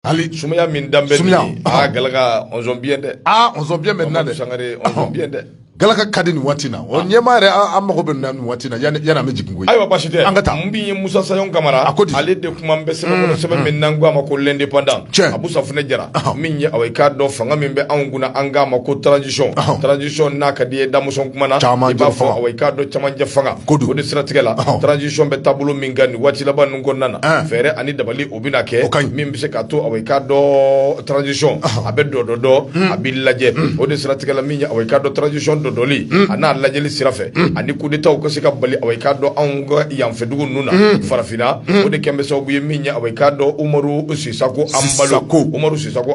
hali sumaya min danbe sumaya aa galaka ɔnzɔn biyɛn dɛ aa ɔnzɔn biyɛn bɛ na dɛ sangare ɔnzɔn biyɛn dɛ galaka ka di nin waati na o ɲɛma yɛrɛ an mago bɛ na nin waati na yanni an bɛ jigin koyi ayiwa basi tɛ an ka taa mun b'i ye musa sayɔn kamara a ko di ale de kuma bɛ sɛbɛn kɔnɔ sɛbɛn min n'an ko a ma ko l'indépendant tiɲɛ abu safunɛ jara min ye aw ye k'a dɔn fanga min bɛ anw kunna an k'a ma ko transition transition n'a ka d'i ye damɔnzɔn kuma na i b'a fɔ aw ye k'a dɔn camancɛ fanga ko di o de siratigɛ la transition bɛ taabolo min kan nin waati laban ninnu kɔnɔna na fɛɛrɛ ani dabali o bɛna kɛ min bɛ se ka to aw ye k'a dɔn transition a bɛ dɔ dɔdɔ hmm. a bɛ lajɛ hmm. o de siratigɛla min ye aw ye k'a dɔn transition dɔdɔli hmm. a n'a lajɛli sira fɛ ani kudetaw ka se ka bali aw ye k'a dɔn anw ka yanfɛdugu ninnu na farafinna o de kɛlen bɛ sababu ye min ye aw ye k'a dɔn umaru sisako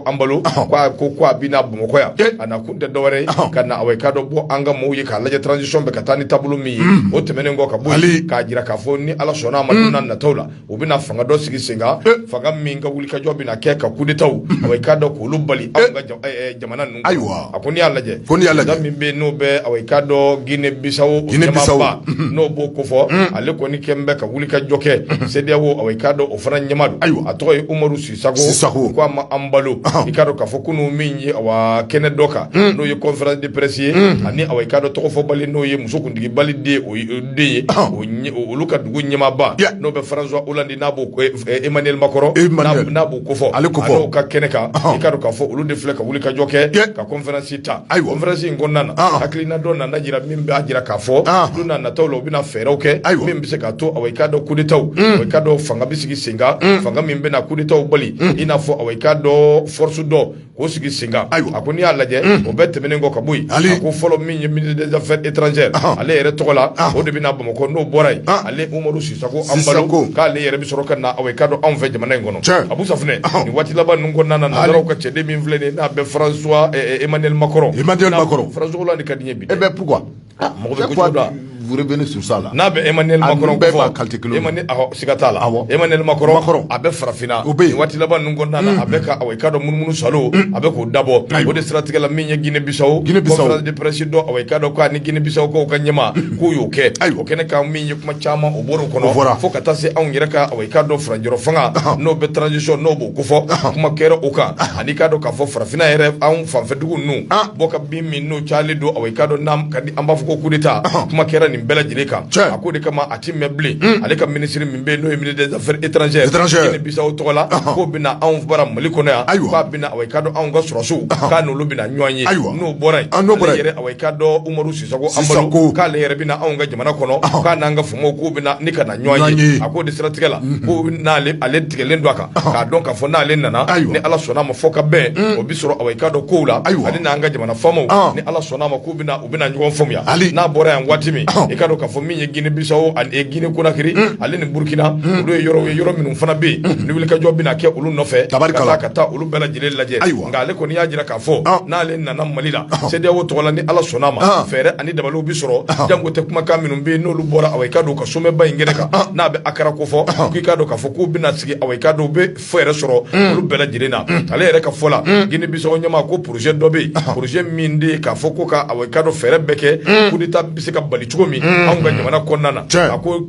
anbalo ko a bɛna bamakɔ yan eh. a nakun tɛ dɔwɛrɛ ye ka na aw ye k'a dɔn bɔ an ka mɔgɔw ye k'a lajɛ transition bɛ ka taa ni taabolo min ye o tɛmɛnen kɔ ka bɔ k'a jira k'a fɔ ni ala sɔnna a ma don nataw la u bɛna fanga dɔ sigi sen kan eh. fanga min ka wulikajɔ bɛna kɛ ka kudetaw aw ye k'a dɔn k'olu bali eh. an ka eh, jamana ninnu ayiwa a ko n'i y'a lajɛ min bɛ n'o bɛ aw ye k'a dɔn gine bisawo ɲɛmaba mm-hmm. n'o b'o kofɔ mm-hmm. ale kɔni kɛlen bɛ ka wulikajɔ kɛ mm-hmm. cedeao aw ye k'a dɔn o fana ɲɛma don ayiwa a tɔgɔ ye umaru si ko a ma anbalo i k'a dɔn k'a fɔ kunun min ye kɛnɛ dɔ kan hmm. n'o ye conférence de presse ye hmm. ani aw ye k'a dɔn tɔgɔfɔbali n'o ye muso kuntigi bali den de ye olu ka dugu ɲɛmaba n'o bɛ françois hollande n'a b'o emmanuel macron n'a b'o kofɔ a n'o ka kɛnɛ kan i k'a dɔn k'a fɔ olu de filɛ ka wulikajɔ kɛ ka conférence ta ayiwa conférence in kɔnɔna hakilina dɔ nana jira min b'a jira k'a fɔ don nataw la u bɛna fɛɛrɛw kɛ ayiwa min bɛ se ka to aw ye k'a dɔn kudetaw aw ye k'a dɔn fanga bɛ sigi sen kan fanga min bɛna kudetaw bali i n'a fɔ aw ye k'a dɔn force dɔ k'o sigi sen kan ayiwa a ko n'i y'a lajɛ o bɛɛ tɛmɛnen kɔ ka bɔ yen ko fɔlɔ min ye ministre des affaires étrangères ale yɛrɛ tɔgɔ la o de bɛna bamakɔ n'o bɔra yen ale umaru sisako anbalo k'ale yɛrɛ bɛ sɔrɔ ka na aw ye k'a dɔn anw fɛ jamana in kɔnɔ abu safunɛ nin waati laban ninnu kɔnɔna na nansaraw ka cɛden min filɛ n'a bɛ françois emmanuel macron françois hollande ka di n ye bi e bɛ Ah, pourquoi vous revenez sur ça là n'a bɛ emmanuel macron bɛɛ b'a kalite kelen e ma siga t'a la emmanuel macron a bɛ farafinna o bɛ waati laban ninnu kɔnɔna na a bɛ ka aw ye k'a dɔn munumunusaalo a bɛ k'o dabɔ o de siratigɛ la min ye gine bisaw conférence de presse don aw ye k'a dɔn k'a ni gine bisaw k'o ka ɲɛma k'u y'o kɛ ayiwa o kɛnɛ kan min ye kuma caman o bɔr'o kɔnɔ fo ka taa se anw yɛrɛ ka aw ye k'a dɔn faranjɔrɔ fanga n'o bɛ transition n'o b'o kofɔ kuma kɛra o kan ani i k'a dɔn k'a fɔ farafinna yɛrɛ anw fanfɛdugu ninnu bɔ ka bin min n'o calen don aw ye k'a dɔn an b'a fɔ ko kudeta kuma kɛra nin bɛɛ lajɛlen kan a k'o de kama a tɛ mɛɛn bilen ale ka minisiri min bɛ n'o ye ministre des affaires étrangères gine bisaw tɔgɔ la k'o bɛna anw bara mali kɔnɔ yan ayiwa k'a bɛna aw ye k'a dɔn anw ka sɔrɔdasiw k'a n'olu bɛna ɲɔgɔn ye ayiwa n'o bɔra yen yɛrɛ aw ye k'a dɔn umaru sisako anbalo k'ale yɛrɛ bɛna anw ka jamana kɔnɔ k'a'an ka k'u bɛ ne ka na ɲɔgɔn ye a ko de siratigɛ la ko ale tigɛlen don a kan k'a dɔn k'a fɔ n'ale nana ni ala sɔnna a ma fɔkabɛn o bɛ sɔrɔ awa i k'a dɔn kow la ayiwa ale n'an ka jamana faamaw ni ala sɔnna a ma k'u bɛna u bɛna ɲɔgɔn faamuya n'a bɔra yan waati min i k'a dɔn k'a fɔ min ye gine bisawo ani gine konakiri ale ni burukina olu ye yɔrɔ ye yɔrɔ minnu fana bɛ yen ni wulikajɔ bɛna kɛ olu nɔfɛ ka taa olu bɛɛ lajɛlen lajɛ ayiwa ale kɔni y'a jira k'a fɔ n'ale nana mali la CEDEAO tɔgɔ la ni ala sɔnna a ma fɛɛrɛ ani dabaliw bɛ sɔrɔ jango tɛ kumakan minnu bɛ n'olu bɔra awa i k'a dɔn ka somɛba in kɛnɛ kan n'a bɛ Accra kofɔ k'i k'a dɔn k'a fɔ k'u bɛna sigi awa i k'a dɔn u bɛ fɛɛrɛ sɔrɔ olu bɛɛ lajɛlen na ale yɛrɛ ka fɔ la gine bisawo ɲɛmaa ko projet dɔ bɛ projet min de k'a fɔ ko ka awa i k'a dɔn fɛɛrɛ bɛɛ kɛ kudeta bɛ se ka bali cogo min anw ka jamana kɔnɔna na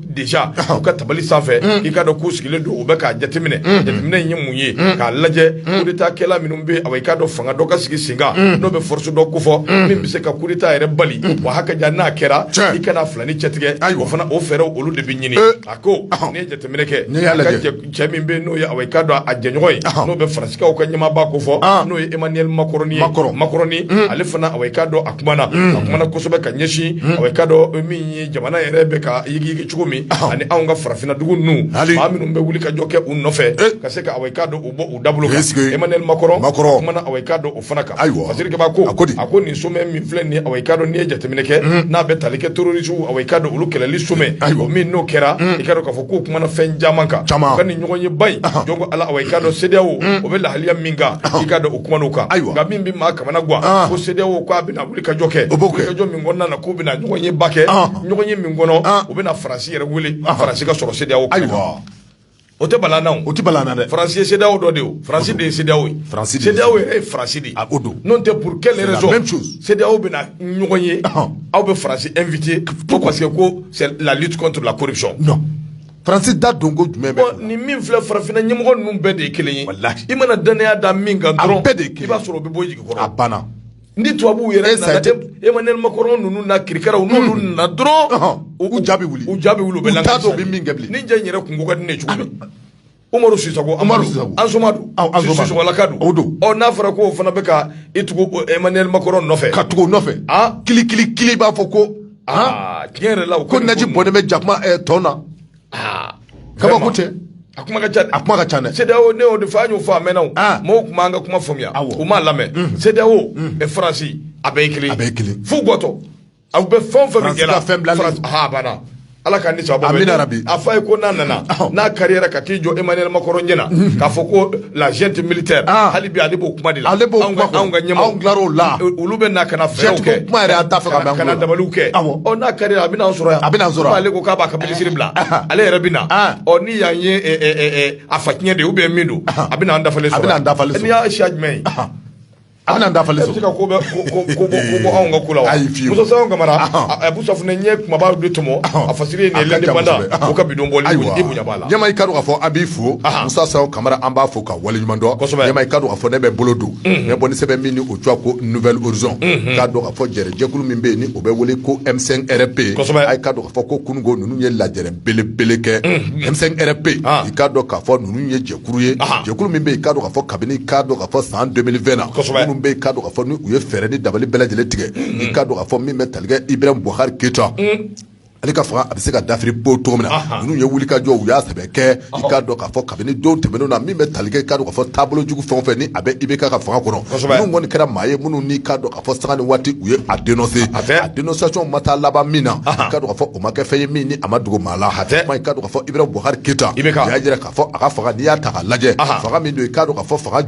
déjà u ka tabali sanfɛ mm. i k'a dɔn k'u sigilen don u bɛ k'a jateminɛ mm. jateminɛ in ye mun ye mm. k'a lajɛ kudeta kɛla minnu bɛ awa i k'a dɔn fanga dɔ ka sigi senkan n'o bɛ force dɔ kofɔ min bɛ se ka kudeta yɛrɛ bali wa hakɛ ja n'a kɛra i ka na fila nin cɛtigɛ o fana o fɛɛrɛw olu de bɛ ɲini eh. a ko ah. n'i ye jateminɛ kɛ cɛ min bɛ n'o ye awa i k'a dɔn a jɛɲɔgɔn ye n'o bɛ faransikaw ka ɲɛmaaba kofɔ n'o ye Emmanuel Macron ye ale fana awa i k'a dɔn a kumana a kumana kosɛbɛ ka ɲɛsin awa i k'a dɔn min ye jamana yɛrɛ bɛ ka yigiyigi cogo min ani anw ka farafinna dugu ninnu maa minnu bɛ wulikajɔ kɛ u nɔfɛ ka se ka awa i k'a dɔn u bɔ u dabolo kan Emmanuel Macron a kumana awa i k'a dɔn o fana kan ayiwa parce que ko a ko a ko nin somɛ min filɛ nin awa i k'a dɔn n'i ye jateminɛ kɛ mm. n'a bɛ tali kɛ terrorisiw awa i k'a dɔn olu kɛlɛli somɛ ayiwa min n'o kɛra mm. i k'a dɔn k'a fɔ k'u kumana fɛn caman kan ka nin ɲɔgɔnyeba in jɔn ko ala awa i k'a dɔn CEDEAO mm. o bɛ lahaliya min kan i k'a dɔn u kumana o kan ayiwa nka min bɛ maa kamana gwan ko CEDEAO k'a bɛna wulikajɔ kɛ wulikajɔ min kɔnɔna na k'u bɛna ɲɔgɔnyeba kɛ ɲɔgɔnye min kɔnɔ u bɛna faransi yɛrɛ wele faransi k'a sɔrɔ CEDEAO ayiwa o tɛ bala na o tɛ bala na dɛ faransi CEDEAO dɔ de o faransi de ye CEDEAO ye faransi CEDEAO yɛrɛ ye faransi de a ko don n'o tɛ pour quelle raison CEDEAO bɛna ɲɔgɔn ye aw bɛ faransi invité ko parce que ko c'est la lutte contre la corruption non faransi da don ko jumɛn bɛ ni min filɛ farafinna ɲɛmɔgɔ ninnu bɛɛ de ye kelen ye walahi i mana dannaya da min kan dɔrɔn a bɛɛ de ye kelen i b'a sɔrɔ o bɛ bɔ i jigi kɔrɔ a banna Ni tubabuw yɛrɛ Emmanuel Macron ninnu na kirikaraw n'olu nana dɔrɔn u ja bɛ wuli u ja bɛ wuli u t'a dɔn u bɛ min kɛ bilen nin cɛ yɛrɛ tun ko ka di n ye cogo min Umaru Sisoko Umaru Sisokolaka don o don ɔ n'a fɔra k'o fana bɛ ka i tugu Emmanuel Macron nɔfɛ ka tugu nɔfɛ kili kili kili b'a fɔ ko aa tiɲɛ yɛrɛ la ko naaji bɔnnen bɛ jakuma tɔn na ah, kabako tɛ a kuma ka ca a kuma ka ca dɛ CEDEAO ne y'o de fɔ an y'o fɔ a mɛnna o ah. mɔgɔw tun m'an ka kuma faamuya u m'a lamɛn mm. CEDEAO mm. eh, Faransi a bɛɛ ye kelen a bɛɛ ye kelen f'u bɔtɔ aw bɛ fɛn o fɛn min kɛra Faransi ha a banna ala ka ni sababu amina yarabi a fa ye ko n'a nana n'a kariyara ka t'i jɔ Emmanuel Macron ɲɛna mm. k'a fɔ ko la junte militaire ah. hali bi ale b'o kuma de la ale b'o kuma anw ka ɲɛmɔgɔ anw tilar'o la olu bɛ na ka na fɛɛrɛw kɛ kuma yɛrɛ an t'a fɛ ka mɛn ka na dabaliw kɛ ɔ n'a ka di a bɛna an sɔrɔ yan a bɛna an sɔrɔ yan ale ko k'a b'a ka minisiri bila ah. ale yɛrɛ bɛ na ah. ɔ n'i y'an ye eh, eh, eh, a fa tiɲɛ de ye ou bien min don a bɛna an dafalen sɔrɔ a bɛna an dafalen sɔrɔ n'i y'a siya jumɛn ye A bɛna dafalen sɔrɔ ka ko bɔ anw ka ko la ayiwa Musa Sao Kamara a bu ɲɛ kumaba de tɔmɔ a fa la ka bi don bɔ la ɲɛma i k'a dɔn k'a fɔ an b'i fo Musa Sao Kamara an b'i fo ka waleɲuman dɔn ɲɛma i k'a dɔn k'a fɔ ne bɛ bolo don mɛ bɔ sɛbɛn min ni o tɔgɔ ye ko Nouvel Horizon k'a dɔn k'a fɔ jɛrɛ jɛkulu min bɛ yen ni o bɛ wele ko M5 RFP a k'a dɔn k'a fɔ ko kununko ninnu ye lajɛrɛ belebele kɛ M5 RFP i k'a dɔn k'a fɔ ninnu ye jɛ kulu ye jɛkulu min bɛ yen k'a dɔn k'a fɔ kabini k'a dɔn k'a fɔ san 2020 na minnu bɛ yen k'a dɔn k'a fɔ ni u ye fɛɛrɛ ni dabali bɛɛ lajɛlen tigɛ i k'a dɔn k'a fɔ min bɛ tali kɛ Ibrahim Boubacar Keita ale ka fanga a bɛ se ka dafiri pewu cogo min na ninnu ye wulikajɔ u y'a sɛbɛ kɛ i k'a dɔn k'a fɔ kabini don tɛmɛnenw na min bɛ tali kɛ i k'a dɔn k'a fɔ taabolo jugu fɛn o fɛn ni a bɛ IBK ka fanga kɔnɔ minnu kɔni kɛra maa ye minnu n'i k'a dɔn k'a fɔ sanga ni waati u ye a dénoncé a dénonciation ma taa laban min na i k'a dɔn k'a fɔ o ma kɛ fɛn ye min ni a ma dogo maa la hatɛ i k'a dɔn k'a fɔ Ibrahim Boubacar Keita u y'a jira k'a a ka fanga n'i y'a ta k'a lajɛ fanga min don i k'a dɔn k'a fɔ fanga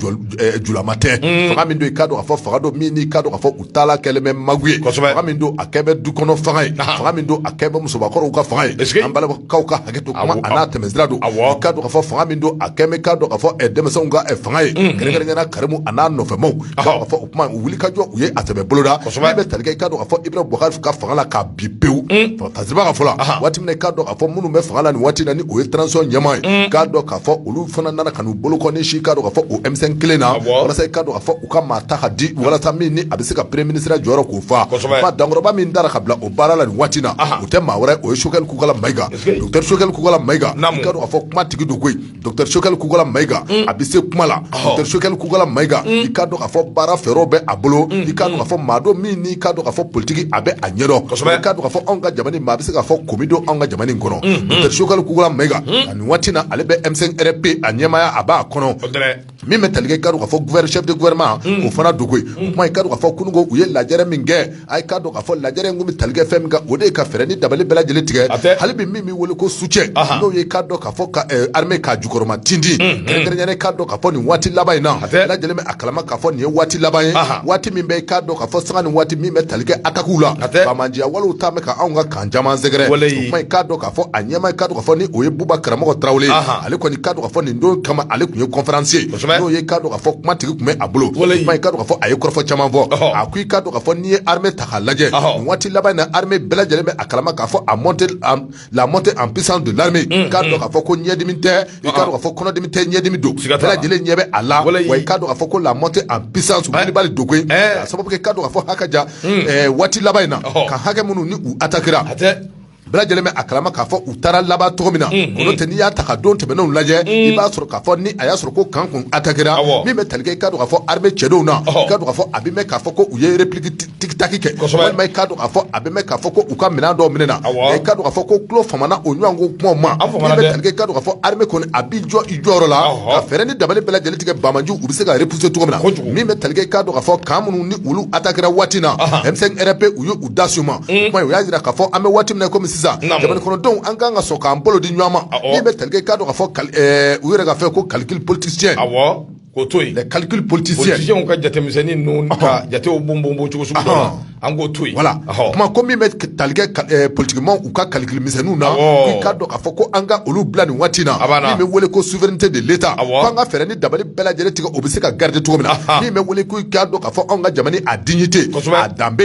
julama tɛ fanga min don i k'a dɔn k'a fɔ fanga don min k'a dɔn k'a fɔ u taala kɛlen bɛ mago ye fanga min don a kɛ bɛ du kɔnɔ fanga ye fanga min don a kɛ bɛ musobakɔrɔw ka fanga ye an balimakaw ka hakɛ to kuma an'a tɛmɛ sira don a k'a dɔn k'a fɔ fanga min don a kɛ bɛ k'a dɔn k'a fɔ denmisɛnw ka fanga ye kɛrɛnkɛrɛnnenya Karimu an'a nɔfɛmaw k'a fɔ o kuma wulikajɔ u ye a sɛbɛ boloda min bɛ tali kɛ i k'a dɔn k'a fɔ Ibrahim Boubacar ka fanga la k'a bin pewu tasiba ka fɔlɔ waati min na i k'a dɔn k'a fɔ minnu bɛ fanga la nin waati na ni o ye transition ɲɛmaa ye k'a dɔn k'a fɔ olu fana nana ka n'u bolokɔni sin k'a dɔn k'a fɔ o M5 kelen na walasa i k'a dɔn k'a fɔ u ka maa ta ka di walasa min ni a bɛ se ka premier ministre ya jɔyɔrɔ k'o fa dankɔrɔba min tara ka bila o baara la nin waati na o tɛ maa wɛrɛ o ye Choguel Kokalla Maïga Docteur Choguel Kokalla Maïga i k'a dɔn k'a fɔ kuma tigi don koyi Docteur Choguel Kokalla Maïga a bɛ se kuma la Docteur Choguel Kokalla Maïga i k'a dɔn k'a fɔ baara fɛɛrɛw bɛ a bolo i k'a dɔn k'a fɔ maa don min n'i k'a dɔn k'a fɔ politique a bɛ a ɲɛdɔn kosɛbɛ i k'a dɔn k'a fɔ anw ka jamana in maa a bɛ se k'a fɔ ko min don anw ka jamana in kɔnɔ Docteur Choguel Kokalla Maïga nin waati in na ale bɛ M5 RFP a ɲɛmaaya a b'a kɔnɔ. min bɛ tali kɛ i k'a dɔn k'a fɔ chef de gouvernement o fana don koyi o kuma k'a dɔn k'a fɔ kununko u ye lajɛrɛ min kɛ a k'a dɔn k'a fɔ lajɛrɛ in bɛ tali kɛ fɛn min kan o de ye ka fɛɛrɛ ni dabali bɛɛ lajɛlen tigɛ a fɛ hali bi min bɛ weele ko soutien n'o ye k'a dɔn k'a fɔ ka armée jukɔrɔma tintin kɛrɛnkɛrɛnnen k'a dɔn k'a fɔ nin waati laban in na a lajɛlen bɛ a kalama k'a fɔ nin ye waati laban ye waati min k'a dɔn k'a fɔ sanga ni waati min bɛ tali kɛ attaques la a ma wali ta Camp caman sɛgɛrɛ o kuma i k'a dɔn k'a fɔ a ɲɛma i k'a dɔn k'a fɔ ni o ye buba karamɔgɔ tarawele ale kɔni k'a dɔn k'a fɔ nin don kama ale tun ye conférencier n'o ye k'a dɔn k'a fɔ kuma tigi tun bɛ a bolo i k'a dɔn k'a fɔ a ye kɔrɔfɔ caman fɔ a ko i k'a dɔn k'a fɔ n'i ye armée ta k'a lajɛ nin waati laban in na armée bɛɛ lajɛlen bɛ a kalama k'a fɔ la montée en puissance de l'armée k'a dɔn k'a fɔ ko ɲɛdimi tɛ i k'a dɔn k'a fɔ kɔnɔdimi tɛ ɲɛdimi don bɛɛ lajɛlen ɲɛ bɛ a la wa i k'a dɔn k'a fɔ ko la montée en puissance bali don ko a sababu kɛ i k'a dɔn k'a fɔ hakɛ ja hmm. waati laban in na kan hakɛ minnu ni u atakira bɛɛ lajɛlen bɛ a kalama k'a fɔ u taara laban cogo min na hmm, hmm. n'o tɛ n'i y'a ta ka don tɛmɛnenw lajɛ i b'a sɔrɔ k'a fɔ ni a y'a sɔrɔ ko kan kun atakira min bɛ tali kɛ i k'a dɔn k'a fɔ armée cɛdenw na i k'a dɔn k'a fɔ a bɛ mɛn k'a fɔ ko u ye repli Tactique kɛ walima i k'a dɔn k'a fɔ a bɛ mɛn k'a fɔ ko u ka minɛn dɔw minɛna i k'a dɔn k'a fɔ ko tulo famana o ɲɔgɔn ko kumaw ma min bɛ tali kɛ i k'a dɔn k'a fɔ armée kɔni a b'i jɔ i jɔyɔrɔ la ka fɛɛrɛ ni dabali bɛɛ lajɛlen tigɛ banbaanci u bɛ se ka repousser cogo min na min bɛ tali kɛ i k'a dɔn k'a fɔ kan minnu ni olu atakira waati na M5 RFP u y'u da su ma kuma o y'a jira k'a fɔ an bɛ waati min na kɔmi sisan jamana kɔnɔdenw an ka kan ka sɔn k'an bolo di ɲɔgɔn ma min bɛ tali kɛ i k'a dɔn k'a fɔ u yɛrɛ ka fɛn ko calcul politicien K'o to yen calcul politicien ka jatemisɛnnin ninnu ka jatew bon bon cogo an k'o to yen voilà kuma ko min bɛ tali kɛ politikimaaw ka calcul misɛnninw na i k'a dɔn k'a fɔ ko an ka olu bila nin waati na min bɛ wele ko souveraineté de l'État ko an ka fɛɛrɛ ni dabali bɛɛ lajɛlen tigɛ o bɛ se ka garder cogo min na min bɛ wele ko i k'a dɔn k'a fɔ an ka jamana a dignité a danbe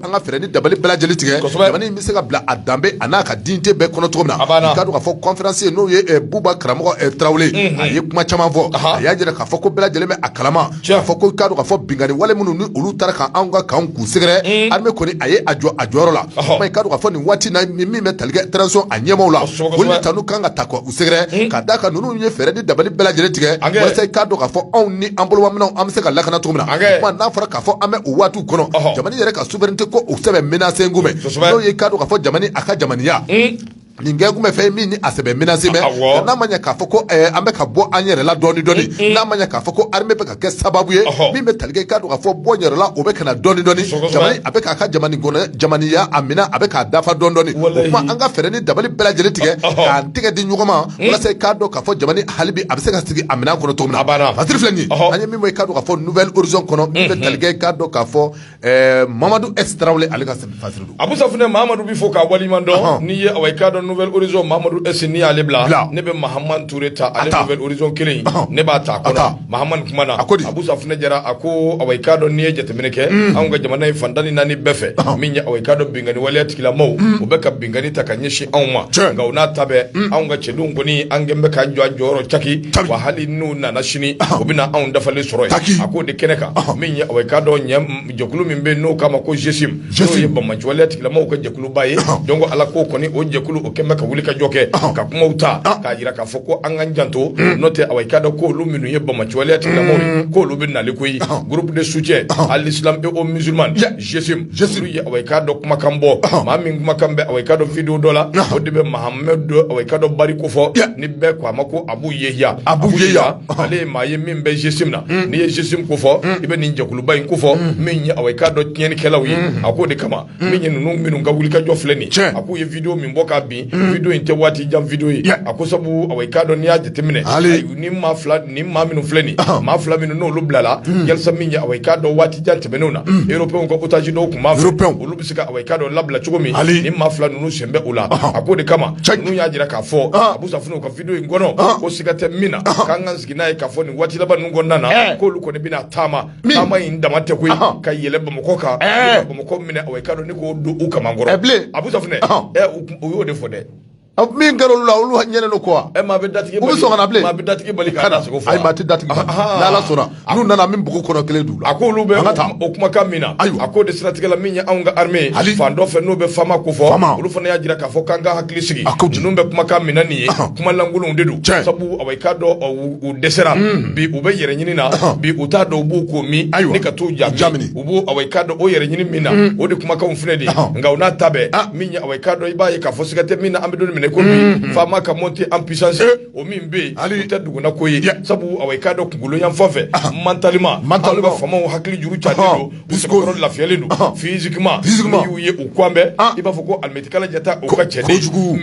an ka fɛɛrɛ ni dabali bɛɛ lajɛlen tigɛ, kosɛbɛ, jamana in bɛ se ka bila a danbe a n'a ka dignité bɛɛ kɔnɔ cogo min na, a banna, i k'a dɔn k'a fɔ conférencier n'o ye eh, Buba karamɔgɔ eh, Tarawele, unhun, a ye kuma caman fɔ, Ahan. a y'a jira k'a fɔ ko bɛɛ lajɛlen bɛ a kalama, Tiɲɛ. k'a fɔ ko i k'a dɔn k'a fɔ binkanni wale minnu ni olu taara ka anw ka kanw k'u sɛgɛrɛ, un, armée kɔni a ye a jɔ a jɔyɔrɔ la, Ɔhɔ. kuma i k'a dɔn k'a fɔ nin waati in na ni min bɛ tali kɛ transition a ɲɛmaaw la, Kosɛbɛ, kosɛbɛ. olu de tanu kan ka taa k'u sɛgɛrɛ ka d'a kan ninnu ye fɛɛrɛ ni dabali bɛɛ lajɛlen tigɛ walasa i k'a dɔn k'a fɔ anw ni an bolomaminɛnw an bɛ se ka lakana cogo min na kuma n'a fɔra k'a fɔ an bɛ o waatiw kɔnɔ jamana yɛrɛ ka souveraineté ko o sɛbɛ menacélen kun bɛ n'o ye i k'a dɔn k'a fɔ jamana a ka jamaniya nin kɛlen tun bɛ fɛn min ni a sɛbɛ menacélen bɛ n'a ma k'a fɔ ko an bɛ ka bɔ an yɛrɛ la dɔɔnin dɔɔnin n'a ma k'a fɔ ko kɛ sababu ye min bɛ tali k'a don ka fɔ bɔ yɛrɛla o bɛ ka dɔn dɔn a bɛ ka kaya a minɛ a bɛ k'a dafa dɔn dɔn an ka fɛ ni dabali bɛɛ lajɛlen tigɛ k'a tɛgɛ di ɲɔgɔn ma walasa k'a dɔn ka fɔ halibi a bɛ se ka sigi a minɛn kɔnɔ to a filɛ ka ka fɔ kɔnɔ bɛ k'a dɔn ka fɔ Ɛɛ mamadu e tarawele ale ka a bɛ fana mamadu bɛ fɔ ka wali dɔn n'i ye i ka dɔn nfɛz mamadu ese ni y'ale bila ne bɛ mahamadure ta alefɛz kelen ne b'a ta na a ko a funɛ jɛra a ko ka dɔn n'i ye jateminɛ kɛ anw ka jamana in fatan ni naani bɛɛ fɛ min ka dɔn binkanani wale ten Gilamaw u bɛ ka binkanni ta ka ɲɛsin anw ma nka o n'a ta bɛɛ anw ka cɛdenw kɔni an kɛlen bɛ k'an jɔ an jɔyɔrɔ caki wa hali n'u nana sini u bɛ na anw dafalen sɔrɔ taki a ko de kɛnɛ kan min ye i k'a dɔn jɛkulu min bɛ n'o k'a ma ko GSIM n'o ye banbaanci waleya tigilamaw ka jɛkuluba ye donc ala k'o kɔni o jɛkulu o kɛlen bɛ ka wulikajɔ kɛ ka kuma ta k'a jira k'a fɔ ko an k'an janto n'o tɛ i k'a dɔn k'olu minnu ye banbaanci waleya tigilamaw ye k'olu bɛ nali koyi groupe de soutien à l'islam et aux musulmans GSIM GSIM ye awa i k'a dɔn kumakan bɔ maa min kumakan bɛ awa i k'a dɔn video dɔ la o de bɛ Mahamadu awa i k'a dɔn Bari ko fɔ ni bɛɛ ko a ma ko Abu Yehiya Abu Yehiya ale ye maa ye min bɛ GSIM na hmm. n'i ye GSIM ko fɔ hmm. i bɛ nin jɛkuluba in ko fɔ hmm. min ye awa i k'a dɔn tiɲɛnikɛlaw ye a k'o de kama min ye ninnu minnu ka wulikajɔ filɛ nin a k'u ye video min bɔ k'a bin video in tɛ waati jan video ye a ko sabu awa i k'a dɔn n'i y'a jateminɛ ni maa fila ni maa minnu filɛ nin maa fila minnu n'olu bilala hmm. yalisa min ye awa i k'a dɔn waati jan tɛmɛnenw na hmm. européenw ka otage dɔw tun b'a fɛ olu bɛ se ka awa i k'a dɔn labila cogo min ni maa fila ninnu sen bɛ o la a k'o de kama ninnu y'a jira k'a fɔ ah. Abu Safunɛ u ka video in kɔnɔ ah. ko siga tɛ min na ah. k'an ka sigi n'a ye k'a fɔ nin waati laban ninnu kɔnɔna na eh. k'olu kɔni bɛna taama taama in dama tɛ koyi ka yɛlɛ Bamakɔ kan eh. Bamakɔ minɛ awa i k'a dɔn ni k'o don u kamankɔrɔ eh, Abu Safunɛ u y'o de fɔ dɛ A min kɛra olu la olu ɲɛ don kɔ e maa bɛ datigi bɛ so bilen maa bɛ datigi bali k'a da sogo ayi maa tɛ datigi bali n'Ala sɔnna n'u nana min bugu kɔnɔ kelen don a ko olu bɛ ka taa o kumakan min na ayiwa a k'o de siratigɛ la min ye anw ka armée fan dɔ fɛ n'o bɛ FAMa ko fɔ olu fana y'a jira k'a fɔ k'an ka hakili sigi a ko ninnu bɛ kumakan min na nin ye kuma lankolonw de don sabu awa i k'a dɔn u dɛsɛra bi u bɛ yɛrɛ ɲini na bi u t'a dɔn u b'u ko min ayi ka t'u ja jamina u b'u awa i k'a dɔn u yɛrɛ ɲini min na mm. o de kumakanw filɛ dɛ nka o n'a ta bɛɛ ah. min ye awa i k'a dɔn i b'a ye k'a fɔ siga tɛ min na an bɛ don min na i ko bi FAMa ka montée en puissance eh. o min bɛ yen hali tɛ duguna ko ye sabu awa i k'a dɔn kunkolo yanfan fɛ ah. mentalement an ka FAMaw hakili juru calen ah. don u sɛbɛkɔrɔ lafiyalen don physiquement n'i y'u ye u kwan bɛɛ i b'a fɔ ko alimɛtikala jata o ka cɛ de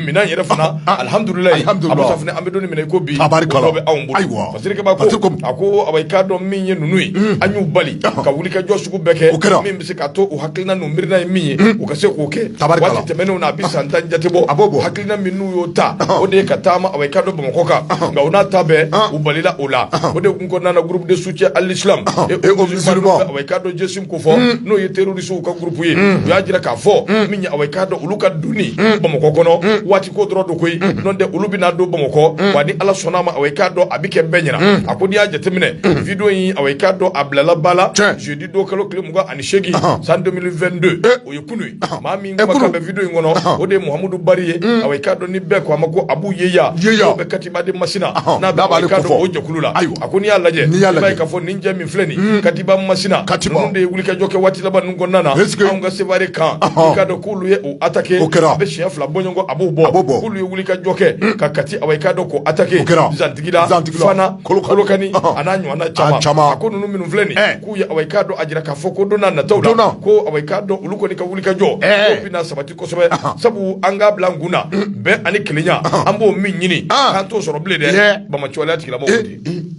minɛn yɛrɛ fana alihamudulila Abu Safunɛ an bɛ don min na i ko bi o bɛ anw bolo A a ko awa i k'a dɔn min ye ninnu ye mm. an y'u bali ka wulikajɔ sugu bɛɛ kɛ o kɛra min bɛ se k'a to u hakilina n'u miirina ye min ye mm. u ka se k'o kɛ waati tɛmɛnenw na a bɛ san tan jate bɔ a b'o hakilina min n'u y'o ta o de ye ka taama awa i k'a dɔn Bamakɔ kan nka o n'a ta bɛɛ u balila o la o de kun kɔnɔna na groupe de soutien à l'islam awa i k'a dɔn GSIM ko fɔ mm. n'o ye teri rɔrisiw ka groupe ye u y'a jira k'a fɔ min ye awa i k'a dɔn olu ka donni Bamakɔ kɔnɔ waati ko dɔrɔn don koyi n'o tɛ olu bɛna don Bamakɔ wa ni Ala sɔnn'a ma awa i k'a dɔn a bɛ kɛ bɛɛ ɲɛna a ko n'i y'a jateminɛ video in awa i k'a dɔn a bilala ba la jeudi don kalo tile mugan ani seegin san 2022 o ye kunu ye maa min kumakan bɛ video in kɔnɔ o de ye Muhamadu Bari ye awa i k'a dɔn ni bɛɛ ko a ma ko Abu Yehiya n'o bɛ Katiba de Masina n'a bɛ awa i k'a dɔn o jɛkulu la a ko n'i y'a lajɛ i b'a ye k'a fɔ nin jɛ min filɛ nin ye Katiba Masina Katiba ninnu de ye wulikajɔ kɛ waati laban ninnu kɔnɔna na est-ce que anw ka Sevare camp i k'a dɔn k'olu ye o attaquer o kɛra a bɛ siɲɛ fila bɔ ɲɔgɔn kɔ a b'o bɔ a b'o bɔ k'olu ye wulikajɔ kɛ ka Kati awa i k'a dɔn k'o attaquer o kɛra Zantigila Zantigila Fana Kolokani a n'a ɲɔgɔnna caman a caman a ko ninnu minnu filɛ nin ye k'u ye awa i k'a dɔn a jira k'a fɔ ko don n'a nataw la joona ko awa i k'a dɔn olu kɔni ka wulikajɔ k'o bɛna sabati kosɛbɛ sabu an k'a bila an kun na bɛn ani kelenya an b'o min ɲini k'an t'o sɔrɔ bilen dɛ Bamacɔlɛya tigilamɔgɔw de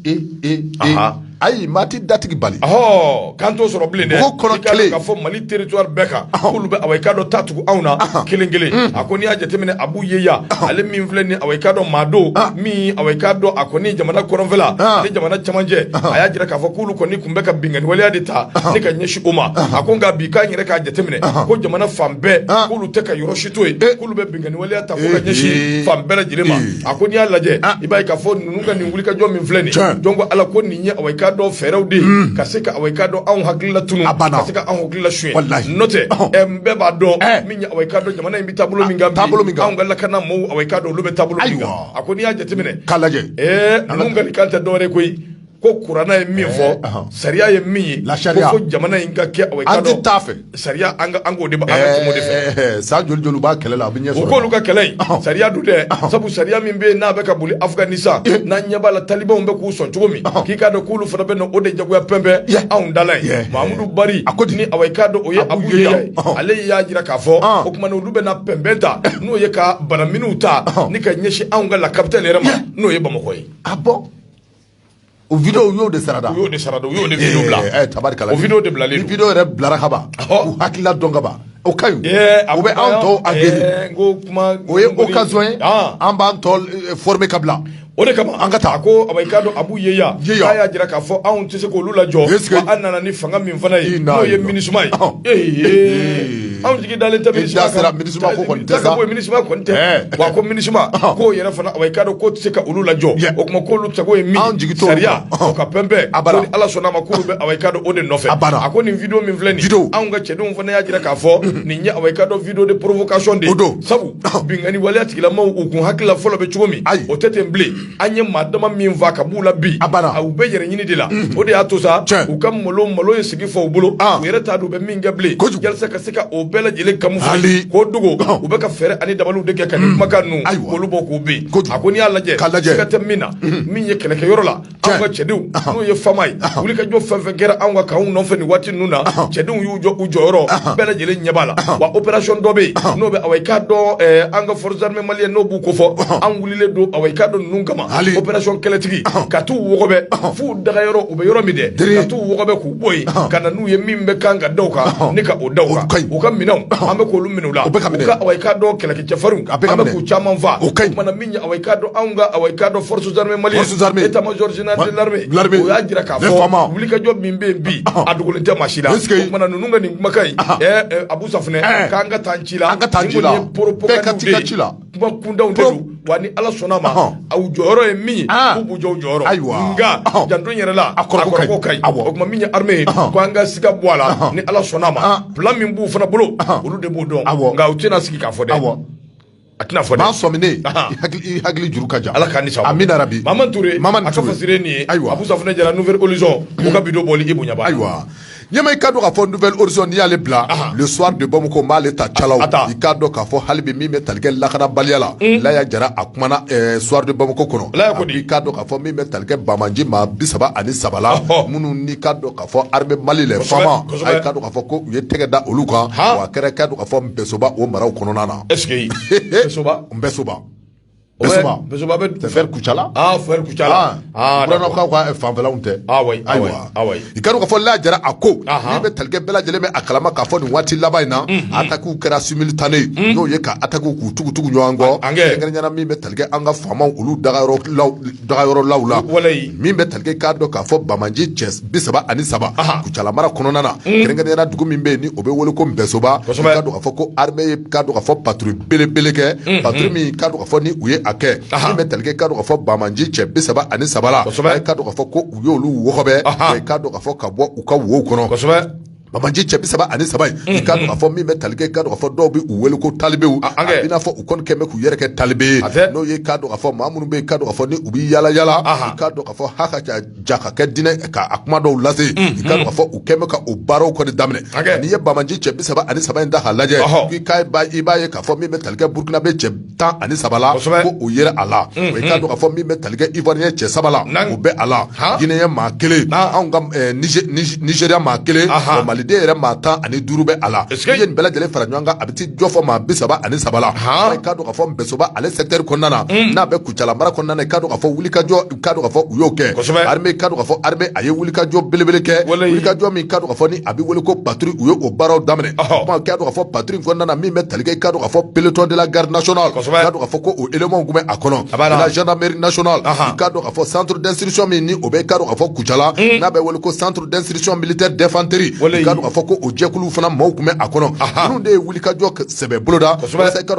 ayi maa tɛ datigi bali kan to sɔrɔ bilen dɛ k'a fɔ mali territoire bɛɛ kan k'olu bɛ awa i k'a dɔn ta tugu anw na kelen kelen mm. a ko n'i y'a jateminɛ Abu Yeya ale min filɛ nin awa i k'a dɔn maa don min awa i k'a dɔn a kɔni jamana kɔrɔnfɛla ni jamana camancɛ a y'a jira k'a fɔ k'olu kɔni tun bɛ ka binkanni waleya de ta ni ka ɲɛsin o ma a ko nka bi k'an yɛrɛ k'a jateminɛ ko jamana fan bɛɛ k'olu tɛ ka yɔrɔ si to yen eh. Waleya ta ka ɲɛsin fan bɛɛ lajɛlen ma a ko n'i y'a lajɛ ah. i b'a ye k'a fɔ ninnu ka nin wulikajɔ min filɛ nin jɔn ko ala ko nin ye awa i k'a dɔn fɛɛrɛw de hmm. ka se ka awa i k'a dɔn anw hakilila tunun a banna ka se ka anw hakilila suɲɛ n'o tɛ oh. bɛɛ b'a dɔn eh. min ye awa i k'a dɔn jamana in bɛ taabolo ah, min kan anw ka lakana maaw awa i k'a dɔn olu bɛ taabolo min kan a ko n'i y'a jateminɛ k'a lajɛ ninnu ka nin kan tɛ dɔwɛrɛ koyi ko kuranna ye min fɔ eh, sariya ye min ye ko fo jamana in ka kɛ awa i k'a dɔn an tɛ taa fɛ sariya an k'o de an ka tɛmɛ o de fɛ eh, eh, san joli joli b'a kɛlɛ la a bɛ ɲɛ sɔrɔ o k'olu ka kɛlɛ in sariya dun dɛ sabu sariya min bɛ yen n'a bɛ ka boli Afganistan n'an ɲɛ b'a la talibanw bɛ k'u sɔn cogo min k'i k'a dɔn k'olu fana bɛ na o de jagoya pɛnpɛn anw dala ye Mamudu Bari ni awa i k'a dɔn o ye Abu Yeya ye ale y'a jira k'a fɔ o tuma olu bɛ na pɛnpɛn ta n'o ye ka banaminw ta ni ka ɲɛsin anw ka la capitale yɛrɛ ma n'o ye Bamakɔ ye a bɔ O video y'o de sarada y'o de sara u y'o de tari o video de bila video yɛrɛ bilara ka ban u hakilila dɔn ka ban o ka ɲi o bɛ anw tɔw aguerri o ye occasion ye an b'an tɔw former ka bila o de kama an ka taa ko awa i k'a dɔn Abu Yeya y'a jira k'a fɔ anw tɛ se k'olu lajɔ an nana ni fanga min fana ye n'o ye minisma ye anw jigi dalen tɛ minisma kan, sera minisma ko kɔni tɛ sa. ko minisma kɔni tɛ Ɛɛ. wa ko minisma Ɔhɔn. k'o yɛrɛ fana awa i k'a dɔn k'o tɛ se ka olu lajɔ Yɛ. o tuma k'olu sago ye min Anw jigi t'olu sariya kan. Ɔhɔn. o ka pɛnpɛn A bara. ko ni ala sɔnna a ma k'olu bɛ awa i k'a dɔn o de nɔfɛ A bara. a ko nin video min filɛ nin Video. anw ka cɛdenw fana y'a jira k'a fɔ nin ye awa i k'a dɔn video de provocation de ye O don. sabu Ɔhɔn. binkanni waleya tigilamɔgɔw u kun hakilila fɔlɔ bɛ cogo min Ayi. o tɛ ten bilen an ye maa dama min faa ka b'u la bi a banna u bɛ yɛrɛ ɲini de la mm. o de y'a to sa u ka malo malo in sigi fɔ u bolo ah. u yɛrɛ t'a dɔn u bɛ min kɛ bilen yalisa ka se ka o bɛɛ lajɛlen camoufler k'o dogo ah. u bɛ ka fɛɛrɛ ani dabaliw de kɛ ka nin mm. kumakan ninnu k'olu bɔ k'u ben a ko n'i y'a lajɛ siga tɛ min na mm. min ye kɛlɛkɛ yɔrɔ la anw ka cɛdenw ah. n'o ye fama ye wulikajɔ fɛn fɛn kɛra anw ka kanw nɔfɛ nin waati ninnu na cɛdenw y'u jɔ u jɔyɔrɔ bɛɛ lajɛlen ɲɛ b'a la wa opération dɔ bɛ yen n'o bɛ awa i k'a dɔn eh, an ka forces armées maliennes n'o b'u ko fɔ don awa i k'a dɔn ninnu kama hali opération kɛlɛtigi ka taa u wɔgɔbɛ fo u dagayɔrɔ u bɛ yɔrɔ min dɛ ka taa u wɔgɔbɛ k'u bɔ yen ka na n'u ye min bɛ kan ka daw kan ni ka o daw kan u ka minɛnw an bɛ k'olu minɛ u la awa i k'a dɔn kɛlɛkɛcɛfarinw an bɛ k'u caman faa o tuma na min ye awa i k'a dɔn anw ka awa i k'a dɔn forces armées maliennes état major général de l'armée o y'a jira k'a fɔ wulikajɔ min bɛ yen bi a dogolen tɛ maa si la o tuma na ninnu ka nin kumakan in Abu Safunɛ k'an ka taa ci la an ka taa ci la bɛɛ ka ci la kuma kuntanw de don wa ni ala sɔnna ma aw jɔyɔrɔ ye min ye k'u b'u jɔ u jɔyɔrɔ ayiwa nka janto in yɛrɛ la a kɔrɔko ka ɲi o tuma min ye arme ye ko an ka siga bɔ a la ni ala sɔnna ma plan min b'u fana bolo olu de b'o dɔn nka u tɛna sigi k'a fɔ dɛ a tɛna fɔ dɛ maa sɔminen i hakili juru ka jan ala k'an ni sababa amin rabi mama ture mama ture a ka fasire nin ye ayiwa abu safunɛ jara nouvelle horizon o ka bido bɔli i bonya ayiwa Ɲɛma i ka dɔn k'a fɔ nouvelle horizon n'i y'ale bila, anhan, le soir de Bamakɔ n b'ale ta calaw, a ta, i k'a dɔn k'a fɔ hali bi min bɛ tali kɛ lakanabaliya la, un, Laya Jara a kumana ɛ soir de Bamakɔ kɔnɔ, Laya ko di, i k'a dɔn k'a fɔ min bɛ tali kɛ banbaanci maa 33 la, ɔhɔ, minnu n'i ka dɔn k'a fɔ armée Mali les FAMa, kosɛbɛ, a ye ka dɔn k'a fɔ ko u ye tɛgɛ da olu kan, han, wa a kɛra i ka dɔn k'a fɔ Npɛsoba o maraw kɔnɔna na, est ce que Npɛsoba, Npɛsoba O bɛ vers kucala kucala kaw ka fanfɛlaw tɛ i ka dɔn k'a fɔ laya jara a ko min bɛ talikɛ bɛɛ lajɛlen bɛ a kalama k'a fɔ nin waati laban in na attaquew kɛra simultané n'o ye ka attaquew k'u tugu tugu ɲɔgɔn kɔ kɛrɛnkɛrɛnnenya min bɛ talikɛ an ka faamaw olu daga yɔrɔ daga yɔrɔ law la walayi min bɛ tali kɛ k'a dɔn k'a fɔ banbaanci cɛ bi saba ani saba Aha. kucala mara kɔnɔna na kɛrɛnkɛrɛnya la dugu min bɛ yen ni o bɛ wele ko npɛsoba Kosɛbɛ. k'a dɔn k'a fɔ ko armée ye k'a dɔn k'a fɔ patrouille belebele kɛ patrouille min k'a dɔn k'a fɔ ni u ye a kɛ Aha. min bɛ tali kɛ k'a dɔn k'a fɔ banbaanci cɛ bi saba ani saba la Kosɛbɛ. a ye k'a dɔn k'a fɔ ko u y'olu wɔgɔbɛ Aha. wa i k'a dɔn k'a fɔ ka bɔ u ka wow kɔnɔ kosɛbɛ Banbaanci cɛ bi saba ani saba in i ka dɔn k'a fɔ min bɛ talikɛ i ka dɔn k'a fɔ dɔw bɛ u weele ko talibew a b'i n'a fɔ u kɔni kɛlen bɛ k'u yɛrɛ kɛ talibe ye n'o ye ka dɔn k'a fɔ maa minnu bɛ i ka dɔn k'a fɔ ni u bɛ yaala yaala i ka dɔn k'a fɔ ha ka jaka kɛ dinɛ k'a kuma dɔw lase i ka dɔn k'a fɔ u kɛlen bɛ ka o baaraw kɔni daminɛ n'i ye banbaanci cɛ bi saba ani saba in ta k'a lajɛ i b'a ye k'a fɔ min bɛ talikɛ burukinabɛ cɛ tan ani saba la ko o yera a la i k'a dɔn k'a fɔ min bɛ talikɛ ivoirien cɛ saba la o bɛ a la guinéen maa kelen ani ka nigéria maa kelen maliden yɛrɛ maa tan ani duuru bɛ a la i ye nin bɛɛ lajɛlen fara ɲɔgɔn kan a bɛ t'i jɔ fɔ maa bi saba ani saba la i ka dɔn k'a fɔ npɛsoba ale secteur kɔnɔna na n'a bɛ kucala mara kɔnɔna na i ka dɔn k'a fɔ wulikajɔ ka ka fɔ u y'o kɛ ka ka fɔ a ye wuli kajɔ belebele kɛ wuli kajɔ min ka ka fɔ ni a bɛ wele ko bato u ye o baaraw daminɛ ka ka fɔ bato kɔnɔna min bɛ talikɛ ka ka fɔ bereletɔ de la garis ka fɔ ko o emaw tun bɛ a kɔnɔ a zda miiri nas ka ka fɔ santuuru dansiriricɔn min ni o bɛ ka ka fɔ kucala hmm. n'a bɛ wele ko santuuru dansiriricɔn mili tɛ dɛfanteri ka ka fɔ ko o jɛkulu fana maaw tun bɛ a kɔnɔ minnu de ye wuli kajɔ sɛbɛ boloda ka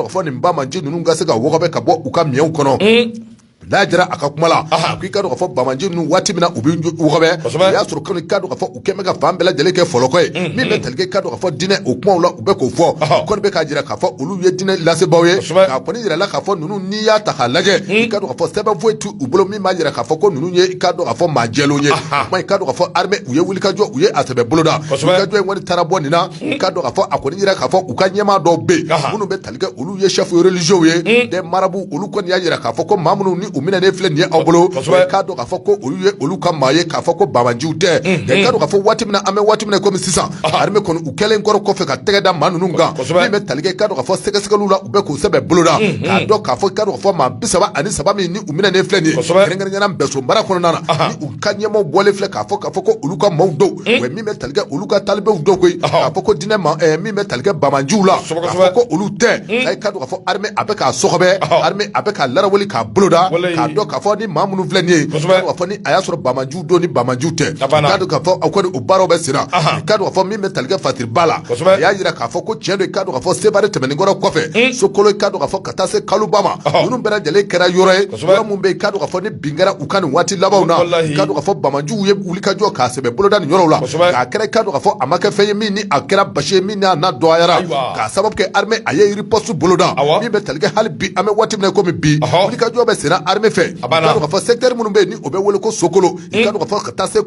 fɔ nin ba ma nci ninnu ka se ka ka bɔ u ka miw kɔnɔ hmm. laya jara a ka kuma la ko i ka dɔn k'a fɔ banbaanci ninnu waati min na u bɛ wɔgɔbɛ o y'a sɔrɔ kɔni i ka dɔn k'a fɔ u kɛlen bɛ ka fan bɛɛ lajɛlen kɛ fɔlɔkɔ ye mm-hmm. min bɛ tali kɛ i ka dɔn k'a fɔ dinɛ o kumaw la u bɛ k'o fɔ kɔni bɛ k'a jira k'a fɔ olu ye dinɛ lasebaaw ye k'a kɔni jirala k'a fɔ ninnu n'i y'a ta k'a lajɛ mm-hmm. i ka dɔn k'a fɔ sɛbɛn foyi t'u bolo min b'a jira k'a fɔ ko ninnu ye i ka dɔn k'a fɔ maa jɛlenw ye kuma i ka dɔn k'a fɔ armée u ye wulikajɔ u ye a sɛbɛ boloda wulikajɔ in kɔni taara bɔ nin na mm-hmm. i ka dɔn k'a fɔ a kɔni jira k'a fɔ u ka ɲɛmaa dɔw bɛ yen minnu bɛ olu ye chefs religieux ye des marabouts olu kɔni y'a jira k'a fɔ ko maa minnu ni u minɛnen filɛ nin ye aw bolo k'a dɔn k'a fɔ ko olu ye olu ka maa ye k'a fɔ ko banbaanciw tɛ i k'a dɔn k'a fɔ waati min na an bɛ waati min kɔmi sisan armée kɔni u kɛlen kɔrɔ kɔfɛ ka tɛgɛ da maa ninnu kan min bɛ tali kɛ i k'a dɔn k'a fɔ sɛgɛsɛgɛliw la u bɛ k'a sɛbɛ boloda k'a dɔn k'a fɔ ka fɔ maa bi saba ani saba min ni u minɛnen filɛ nin ye kɛrɛnkɛrɛnnenya na Npɛsoba mara kɔnɔna na ni u ka ɲɛmaaw bɔlen filɛ k'a fɔ k'a fɔ ko olu ka maaw don min bɛ talikɛ olu ka talibew don koyi k'a fɔ ko diinɛ ma eh, min bɛ talikɛ banbaanciw la k'a fɔ ko olu tɛ hmm. i k'a dɔn k'a fɔ armée a bɛ k'a sɔgɔbɛ armée a bɛ k'a larawuli k'a boloda k'a dɔn k'a fɔ ni maa minnu filɛ nin ye k'a fɔ ni a y'a sɔrɔ banbaanciw don ni banbaanciw tɛ i k'a dɔn k'a fɔ o kɔni o baaraw bɛ sen na i k'a dɔn k'a fɔ min bɛ talikɛ fasiriba la a y'a jira k'a fɔ ko tiɲɛ don i k'a dɔn k'a fɔ sebare tɛmɛnen kɔrɔ kɔfɛ hmm. Sokolo i k'a dɔn k'a fɔ ka taa se Kalunba ma ninnu bɛɛ lajɛlen kɛra yɔrɔ ye yɔrɔ min bɛ yen i k'a dɔn k'a fɔ ni bin kɛra u kan nin waati labanw na i k'a dɔn k'a fɔ banbaanciw ye wulikajɔ k'a sɛbɛ boloda nin yɔrɔw la k'a kɛra i k'a dɔn k'a fɔ a ma kɛ fɛn ye min ni a kɛra basi ye min n'a na dɔgɔyara k'a sababu kɛ armée a ye riposte boloda min bɛ talikɛ hali bi an bɛ waati min na kɔmi bi wulikajɔ bɛ sen na armée fɛ k'a dɔn k'a fɔ secteur minnu bɛ ni o bɛ wele ko Sokolo i k'a dɔn k'a fɔ ka taa se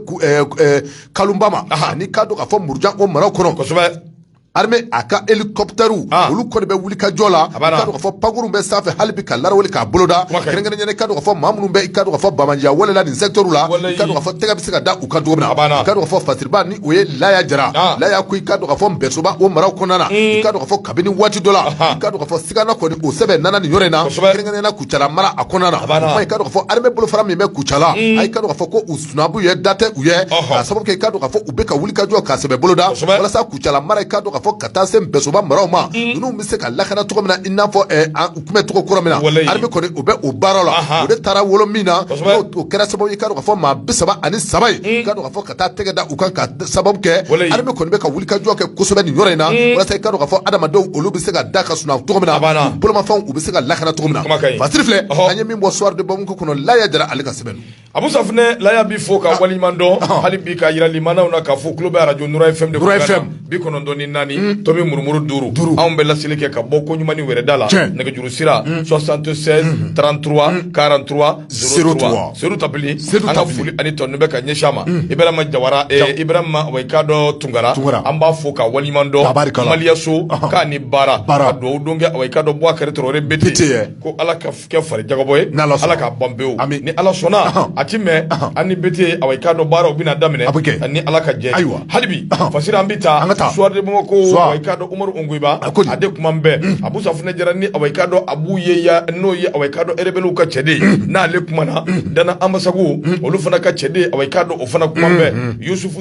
Kalunba ma ani k'a dɔn k'a fɔ Murujan o maraw kɔnɔ Armée a ka hélicoptère ah. olu kɔni bɛ wulikajɔ la ka dɔn ka fɔ pankuru bɛ sanfɛ hali bi ka laraweli k'a boloda kɛrɛnkɛrɛnnen ka dɔn ka fɔ maa minnu bɛ i ka dɔn ka fɔ banbaanciya wale la nin secteur la i ka dɔn ka fɔ tɛgɛ bɛ se ka da u kan cogo min na i ka dɔn ka fɔ fasiriba ni o ye Laya Jara ah. Laya ko i ka dɔn ka fɔ Npɛsoba o maraw kɔnɔna na i ka dɔn ka fɔ kabini waati dɔ la i ka dɔn ka fɔ sigana kɔni o sɛbɛ nana nin yɔrɔ in na kɛrɛnkɛrɛnnen Kucala mara a kɔnɔna na i ka dɔn ka fɔ armée bolofara min bɛ Kucala a i ka dɔn ka fɔ ko u sunabu ye da tɛ u ye k'a sababu kɛ i ka dɔn k'a fɔ u bɛ ka wulikajɔ k'a sɛbɛ boloda walasa Kucala mara i ka dɔn k'a fɔ ka taa se Npɛsoba maraw ma ninnu bɛ se ka lakana cogo min na i n'a fɔ u tun bɛ cogo kɔrɔ min na armée kɔni u bɛ o baaraw la o de taara wolo min na o kɛra sababu ye i ka dɔn k'a fɔ maa bi saba ani saba in i ka dɔn k'a fɔ ka taa tɛgɛ da u kan k'a sababu kɛ armée kɔni bɛ ka wulikajɔ kɛ kosɛbɛ nin yɔrɔ in na walasa i ka dɔn k'a fɔ adamadenw olu bɛ se ka da ka sunɔgɔ cogo min na bolomafɛnw u bɛ se ka lakana cogo min na Fasiri filɛ an ye min bɔ Soir de Bamako kɔnɔ Laya Jara ale ka sɛbɛn don. A bɛ sanfɛ la bɛ fɔ ka waliɲuman dɔn hali bi ka jirali maw na ka fɔ tulo bɛ araj fɛn bi kɔnɔntɔn ni naani to bɛ muru duuru duuru anw bɛ laeli kɛ ka bɔ ko ɲuman wɛrɛda la nɛgɛjuru sira sɔ santu sɛ trantu karantu foli ani tɔ bɛ ka ɲɛsinya ma i bɛ ma jara i ka dɔn tunkara an b'a fɔ ka waliɲuman dɔnbaliyaso k'a ni baara baara don don ka dɔn bɔ kɛrare bɛtete ko ala kɛ fari jagabɔ ye n'ala sɔnna ala k'a ban pewu Ami. ni ala sɔnna Ahan. a ti mɛn Ahan. an ni Bete awa i k'a dɔn baaraw bɛna daminɛ A bɛ kɛ. ni ala ka jɛn ye. Ayiwa. hali bi Ahan. fasiri an bɛ taa An ka taa. Soir de Bamako Suwa. awa i k'a dɔn Umaru Ongoiba A ko di? a de kumanen bɛ Abu Safunɛ Jara ni awa i k'a dɔn Abu Yeya n'o ye awa i k'a dɔn erebeliw ka cɛden n'ale kumana Dana Anbasagu olu fana ka cɛden awa i k'a dɔn o fana kumanen bɛ Yusufu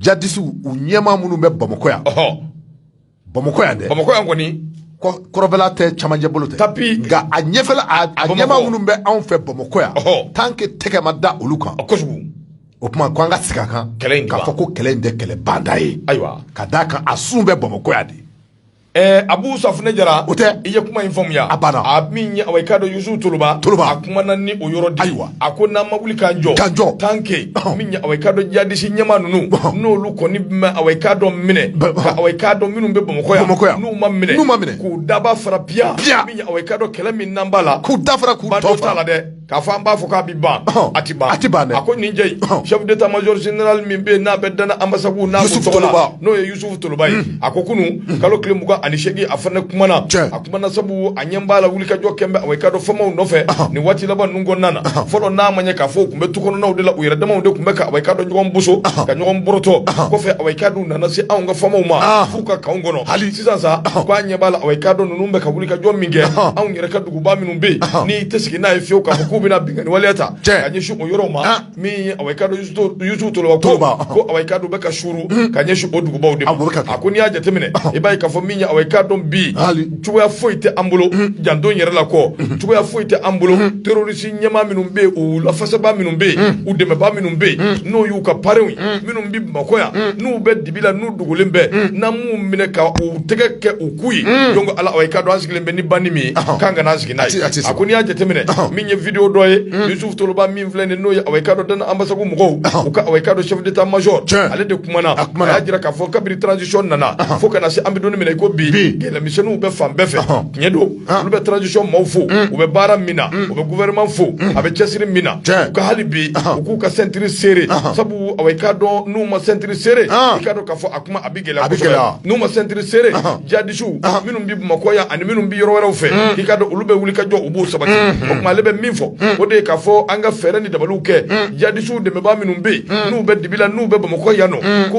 jadisiw u ɲɛmaa minnu bɛ bamakɔ yan bamakɔ yan dɛ bamakɔ yan kɔni kɔrɔnfɛla tɛ cɛmancɛ bolo tɛ tapi nka a ɲɛfɛla a ɲɛmaa minnu bɛ anw fɛ bamakɔ yan tant que tɛgɛ ma da olu kan kosɛbɛ o tuma ko an ka sigi a kan k'a fɔ ko kɛlɛ in tɛ kɛlɛ banda ye ayiwa ka d'a kan a sun bɛ bamakɔ yan de Ɛɛ Abu Safunɛ Jara o tɛ i ye kuma in faamuya a banna a min ye awa i k'a dɔn Yusufu Toloba a kumana ni o yɔrɔ di a ko n'an ma wuli k'an jɔ tant que min ye awa i k'a dɔn jadisi ɲɛmaa ninnu n'olu kɔni bɛɛ ma awa i k'a dɔn minɛ ka awa i k'a dɔn minnu bɛ bamakɔ yan n'u ma minɛ k'u daba fara piya min ye awa i k'a dɔn kɛlɛ min n'an b'a la k'u dafa k'u la dɛ K'a fɔ an b'a fɔ k'a bɛ ban a tɛ ban dɛ a ko nin jɛ in chef d'état major général min bɛ yen n'a bɛ Dana Ambasagu na n'o ye Yusufu Toloba ye a ko kunun kalo tile mugan ani seegin a fana kumana a kumana sabu a ɲɛ b'a la wulikajɔ kɛn bɛ awa i k'a dɔn FAMaw nɔfɛ nin waati laban ninnu kɔnɔna na fɔlɔ n'a ma ɲɛ k'a fɔ u tun bɛ tukɔnɔnaw de la u yɛrɛ damaw de tun bɛ ka awa i k'a dɔn ɲɔgɔn boso ka ɲɔgɔn borotɔ kɔfɛ awa i k'a dɔn u nana se anw ka FAMaw ma f'u ka kanw kɔnɔ hali sisan sa ko an ɲɛ b'a la awa i k'a dɔn ninnu bɛ ka wulikajɔ min kɛ anw yɛrɛ ka dugu ba minnu bɛ yen n'i tɛ sigi n'a ye fiyewu k'a fɔ k'u bɛna binkanni waleya ta ka ɲɛsin o yɔrɔw ma min ye a k'a dɔn Yusufu Toloba ko a k'a dɔn bɛ ka suuru ka ɲɛsin o dugubaw de ma a ko n'i y'a jateminɛ i b'a ye k'a fɔ min ye a k'a dɔn bi cogoya foyi tɛ an bolo janto n yɛrɛ la kɔ cogoya foyi tɛ an bolo terroriste ɲɛmaa minnu bɛ yen u lafasabaa minnu bɛ yen u dɛmɛbaa minnu bɛ yen n'o y'u ka parenw ye minnu bɛ Bamakɔ yan n'u bɛ bi la n'u dogolen bɛ mm. n'an m'u minɛ ka u tɛgɛ kɛ u ku ye mm. donc ala awa i k'a dɔn an sigilen bɛ ni banni min ye k'an kana an sigi n'a ye a ko n'i y'a jateminɛ min ye video dɔ ye mm. Yusuf Toloba min filɛ nin n'o ye awa i k'a dɔn Dana Ambasagu mɔgɔw u ka awa i k'a dɔn chef d'état major ale de kumana a y'a jira k'a fɔ kabiri transition nana fo ka na se an bɛ don min na i ko bi kɛlɛmisɛnninw bɛ fan bɛɛ fɛ tiɲɛ don Olu bɛ transition maaw fo u bɛ baara min na u bɛ gouvernement fo a bɛ cɛsiri min na u ka hali bi u k'u ka ceinture serré sabu a k'a dɔn n'u ma ceinture serré i k'a dɔn k'a fɔ a kuma a bɛ gɛlɛya a bɛ gɛlɛya n'u ma ceinture serré jadisiw minnu bɛ bamakɔ yan ani minnu bɛ yɔrɔ wɛrɛw fɛ k'i k'a dɔn olu bɛ wuli ka jɔ u b'o sabati o tuma ale bɛ min fɔ o de k'a fɔ an ka fɛɛrɛ ni dabaliw kɛ jadisiw dɛmɛbaa minnu bɛ yen n'u bɛ dibi la n'u bɛ bamakɔ yan nɔ ko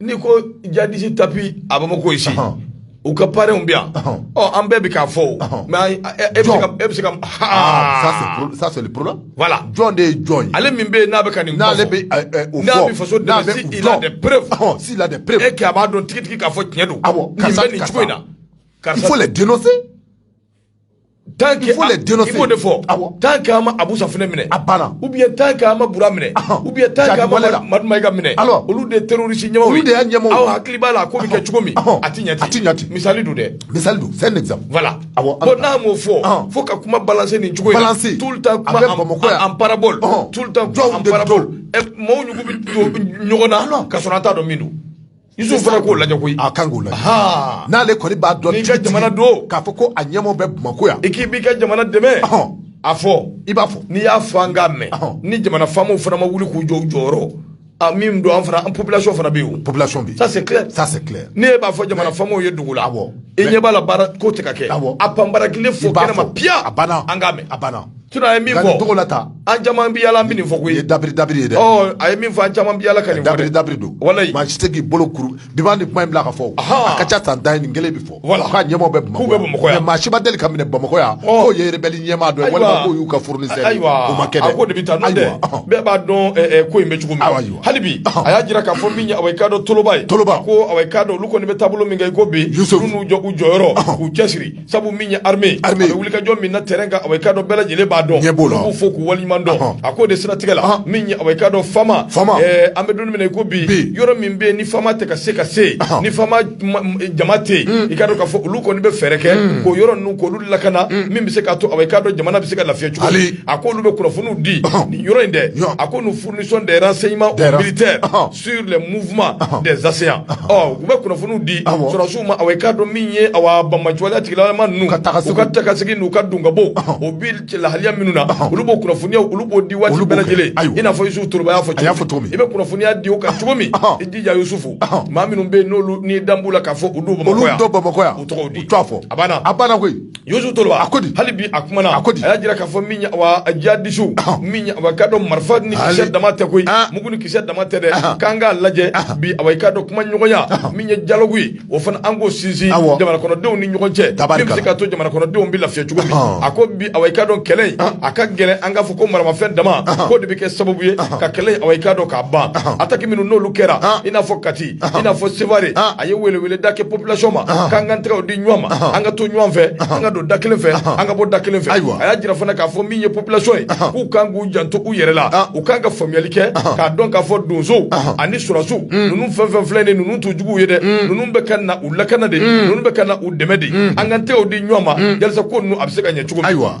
n'i ko djihadistes tapis à Bamako ici u ka parenw bɛ yan ɔ an bɛɛ bɛ k'a fɔ o mais e bɛ se ka ça c'est le problème voilà jɔn de ye jɔn ye ale min bɛ n'a bɛ ka nin n'ale bɛ n'a bɛ faso dɛmɛ s'il a des preuves s'il a des preuves et que a b'a dɔn tigitigi k'a fɔ tiɲɛ don karisa bɛ nin cogo in na il faut les dénoncer tant que i b'o de fɔ tant que an ma abusa fana minɛ a banna ou bien tant que an ma bura minɛ ou bien tant que an ma madu mayiga minɛ olu de terroriste ɲɛmaaw olu de y'a ɲɛmaaw aw hakili b'a la ko bɛ kɛ cogo min a ti ɲɛ ti ɲɛ misali don dɛ misali don c'est un exemple voilà awɔ bon n'a m'o fɔ fo ka kuma balancer nin cogo in na tout le temps kuma en parabole tout le temps kuma en parabole maaw ɲugu bɛ don ɲɔgɔn na ka sɔrɔ an t'a dɔn min don Isufu fana k'o lajɛ koyi, a kan k'o lajɛ, anhan, n'ale kɔni b'a dɔn, n'i ka jamana don, k'a fɔ ko a ɲɛmaaw bɛ Bamakɔ yan, i k'i b'i ka jamana dɛmɛ, ɔhɔn, a fɔ, i b'a fɔ, n'i y'a fɔ an k'a mɛn, ɔhɔn, ni jamana faamaw fana ma wuli k'u jɔ u jɔyɔrɔ, a min don an fana an population fana bɛ yen o, population bɛ yen, ça c'est clair, ça c'est clair, n'e b'a fɔ jamana faamaw ye dogo la, awɔ, i ɲɛ b'a la baara ko tɛ ka kɛ, awɔ, a panparakile fɔ kɛnɛma piya, a banna, an k'a mɛn, a banna Sinon a ye min fɔ dogo la tan an caman bɛ yaala nin fɔ koyi dabiri dabiri ye dɛ a ye min fɔ an caman bɛ yaala ka dabiri dabiri don walayi maa si tɛ k'i bolo kuru bi ni kuma in bila ka fɔ a ka ca san tan nin kelen bɛ fɔ wala k'a ɲɛmɔgɔw bɛ bɛ bamakɔ yan maa si ma deli ka minɛ bamakɔ yan k'o ye rebelle ɲɛmaa dɔ ye walima k'o y'u ka fournisseur ye o ma kɛ ko de bɛ taa n'o tɛ bɛɛ b'a dɔn ko in bɛ cogo min hali bi a y'a jira k'a fɔ min awa i k'a dɔn toloba ye toloba ko a ka dɔn olu kɔni bɛ taabolo min kan i ko bi u n'u jɔ u jɔyɔrɔ k'u cɛsiri sabu min ye armée a bɛ wulikajɔ min na terrain kan awa i k'a dɔn bɛɛ lajɛlen b'a dɔn, ɲɛ b'o la, an b'u fo k'u waleɲuman dɔn, a k'o de siratigɛ la min ye awa i k'a dɔn Fama, Fama, ɛɛ an bɛ don min na i ko bi, bi, yɔrɔ min bɛ yen ni Fama tɛ ka se ka se yen, ni Fama jama tɛ yen, un, i k'a dɔn k'a fɔ olu kɔni bɛ fɛɛrɛ kɛ, un, k'o yɔrɔ ninnu k'olu lakana, un, min bɛ se k'a to awa i k'a dɔn jamana bɛ se ka lafiya cogo min, a k'olu bɛ kunnafoniw di nin yɔrɔ in dɛ, a ko nous fournissons des renseignements aux militaires sur les mouvements ah. des assaillants ah. ɔ u bɛ kunnafoniw di ah, sɔrɔsiw ma awɔ i k'a dɔn min ye awa banbaanci waleya tigilamaa ninnu u ka taakasegin n'u ka donkabɔ o bi lahaliya minnu na olu b'o kunnafoniyaw olu b'o di waati bɛɛ lajɛlen i n'a fɔ Yusufu Toloba y'a fɔ cogo min i bɛ kunnafoniya di o kan cogo min i jija Yusufu maa minnu bɛ yen n'olu n'i dan b'u la k'a fɔ u don Bamakɔ yan olu don Bamakɔ yan u tɔgɔw di u t'a fɔ a banna a banna koyi Yusu Toloba ko hali bi a kumana a y'a jira k'a fɔ min ye awa jihadistes min ye awa i k'a dɔn marifa ni kisɛ dama tɛ koyi mugu ni kisɛ dama tɛ dɛ k'an k'a lajɛ bi awa i k'a dɔn kuma ɲɔgɔnya min ye dialogue ye o fana an k'o sinsin jamanakɔnɔdenw ni ɲɔgɔn cɛ min bɛ se k'a to jamanakɔnɔdenw bɛ lafiya cogo min a ko bi awa i k'a dɔn kɛlɛ a ka gɛlɛn an k'a fɔ ko maramafɛn dama k'o de bɛ kɛ sababu ye ka kɛlɛ awa i k'a dɔn k'a ban attaque minnu n'olu kɛra i n'a fɔ kati i n'a fɔ seware a ye welewele da kɛ population ma k'an k'an tɛgɛw di ɲɔgɔn ma an ka to ɲɔgɔn fɛ an ka don da kelen fɛ an ka bɔ da kelen fɛ ayiwa a y'a jira fana k'a fɔ min ye population ye k'u kan k'u janto u yɛrɛ la u kan ka faamuyali kɛ k'a dɔn k'a fɔ donsow ani surasiw ninnu fɛn fɛn filɛ nin ninnu t'u juguw ye dɛ ninnu bɛ ka na u lakana de ninnu bɛ ka na u dɛmɛ de an k'an tɛgɛw di ɲɔgɔn ma yalisa ko ninnu a bɛ se ka ɲɛ cogo min ayiwa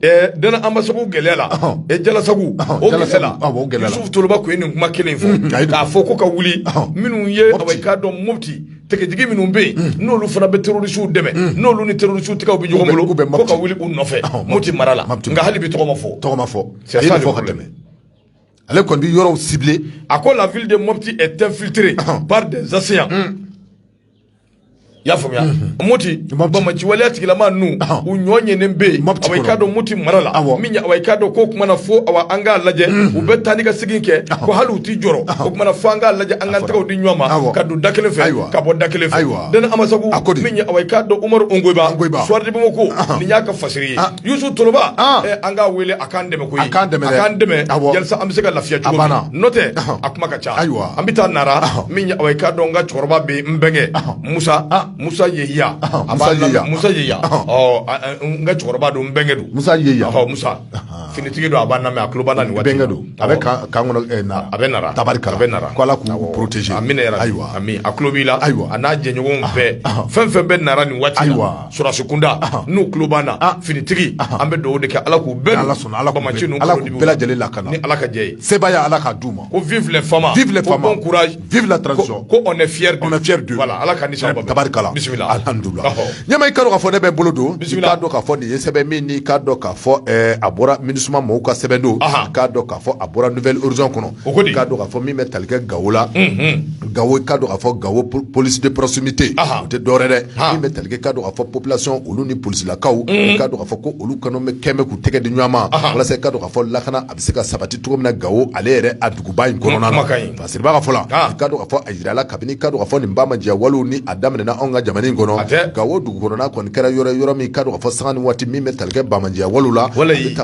Dana Ambasagu gɛlɛya la e jalasago o gɛlɛya la Yusufu Toloba tun ye nin kuma kelen fɔ k'a fɔ ko ka wuli minnu ye awa i k'a dɔn moti tigitigi minnu bɛ yen n'olu fana bɛ terorisiw dɛmɛ n'olu ni terorisiw tɛgɛw bɛ ɲɔgɔn bolo ko ka wuli u nɔfɛ moti mara la nka hali bi tɔgɔ ma fɔ c'est ça le problème ale kɔni bɛ yɔrɔ ciblé a ko la ville de Mopti est infiltrée par des assaillants i y'a faamuya moti bamaci waleya tigilama ninnu u ɲɔ ɲɛnen bɛ yen awa i k'a dɔn moti mara la min ye awa i k'a dɔn ko o kuma na fo awa an k'a lajɛ u bɛ taa ni ka segin kɛ ko hali u tɛ jɔrɔ o kuma na fo an k'a lajɛ an k'an tɛgɛw di ɲɔgɔn ma ka don da kelen fɛ ka bɔ da kelen fɛ Dana Amasagu min ye awa i k'a dɔn Umaru Ungoyiba Soir de Bamako nin y'a ka fasiri ye. Youssou Toloba an k'a wele a k'an dɛmɛ koyi, a k'an dɛmɛ, a k'an dɛmɛ yalasa an bɛ se ka lafiya cogo min na, n'o tɛ a kuma ka ca, ayiwa, an bɛ taa Nara min ye awa i k'a dɔn n ka cɛkɔrɔba bɛ yen n bɛnkɛ Musa Musa Yehiya, Musa Yehiya, Musa Yehiya, ɔ n ka cɛkɔrɔba don n bɛnkɛ don, Musa Yehiya, ɔ Musa finitigi don a b'an lamɛn a tulo b'an na nin waati in na, n bɛnkɛ don, a bɛ kan kan kɔnɔ ɛ Nara, a bɛ Nara, tabarikala, a bɛ Nara, ko Ala k'u protéger amina yarabi, ayiwa, a tulo b'i la, ayiwa, a n'a jɛɲɔgɔnw bɛɛ, fɛn o fɛn bɛ Nara nin waati in na, ayiwa sɔrɔdasi kunda n'u tulo b'an na finitigi an bɛ dugawu de kɛ ala k'u bɛɛ ala sɔnna ala bamaci ninnu ala k'u bɛɛ lajɛlen lakana ni ala ka jɛ ye sebaaya ala k'a d'u ma ko vive les FAMa vive les FAMa bon courage vive la transition ko on est fier on est fier d'eux voilà ala ka nisɔn ba tabarikala bisimila alhamdulillah ɲɛma i k'a dɔn k'a fɔ ne bɛ bolo don bisimila k'a dɔn k'a fɔ nin ye sɛbɛn min n'i k'a dɔn k'a fɔ a bɔra MINUSMA mɔgɔw ka sɛbɛn don k'a dɔn k'a fɔ a bɔra Nouvel Horizon kɔnɔ O ko k'a dɔn k'a fɔ min bɛ tali kɛ gawo la gawo k'a dɔn k'a fɔ gawo police de proximité o tɛ dɔwɛrɛ dɛ min bɛ tali kɛ k'a dɔn k'a fɔ population olu ni polisilakaw k'a dɔn k'a fɔ ko olu kɔnɔ bɛ kɛmɛ k'u tɛgɛ di ɲɔgɔn ma walasa k'a dɔn k'a fɔ lakana a bɛ se ka sabati cogo min na gawo ale yɛrɛ a duguba in kɔnɔna na parce que b'a ka fɔ la k'a dɔn k'a fɔ a jirala kabini k'a dɔn k'a fɔ nin bamaciya wale nin a daminɛnen anw ka jamana in kɔnɔ gawo dugu kɔnɔna kɔni kɛra yɔrɔ yɔrɔ min k'a dɔn k'a fɔ sanga ni waati min bɛ tali kɛ bamaciya wale la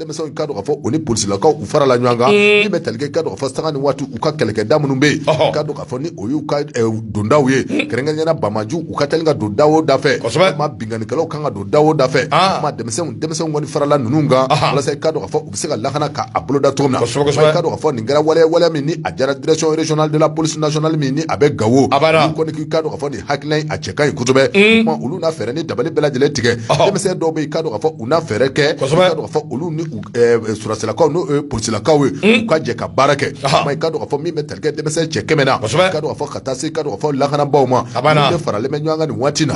denmisɛnw k'a dɔn k'a fɔ u ni polisilakaw u farala ɲɔgɔn kan min bɛ tali kɛ k'a dɔn k'a fɔ sanga ni waati u ka kɛlɛkɛda minnu bɛ yen k'a dɔn k'a fɔ ni o y'u ka dondaw ye kɛrɛnkɛrɛnnenya la bamaciw u ka teli ka don da o da fɛ ma binkannikɛlaw kan ka don da o da fɛ ma denmisɛnnin denmisɛnnin kɔni farala ninnu kan walasa k'a dɔn k'a fɔ u bɛ se ka lakana k'a boloda cogo min na k'a dɔn k'a fɔ nin kɛra waleya min ni a diyara direction régionale de la police nationale min ni a bɛ gawo a kɔni k'a dɔn k'a fɔ nin hakilina in a cɛ ka ɲi kosɛbɛ olu na fɛɛrɛ ni dabali bɛɛ lajɛlen tigɛ denmisɛn dɔw bɛ yen k'a dɔn k'a fɔ u na fɛɛrɛ kɛ k'a dɔn k'a fɔ olu ni sɔrasilakaw n'o polisilakaw ye u ka jɛ ka baara kɛ k'a dɔn k'a fɔ min bɛ tali kɛ denmisɛn cɛ kɛmɛ na k'a dɔn k'a fɔ ka taa se k'a dɔn k'a fɔ lakanabaw ma faralen bɛ ɲɔgɔn kan nin waati na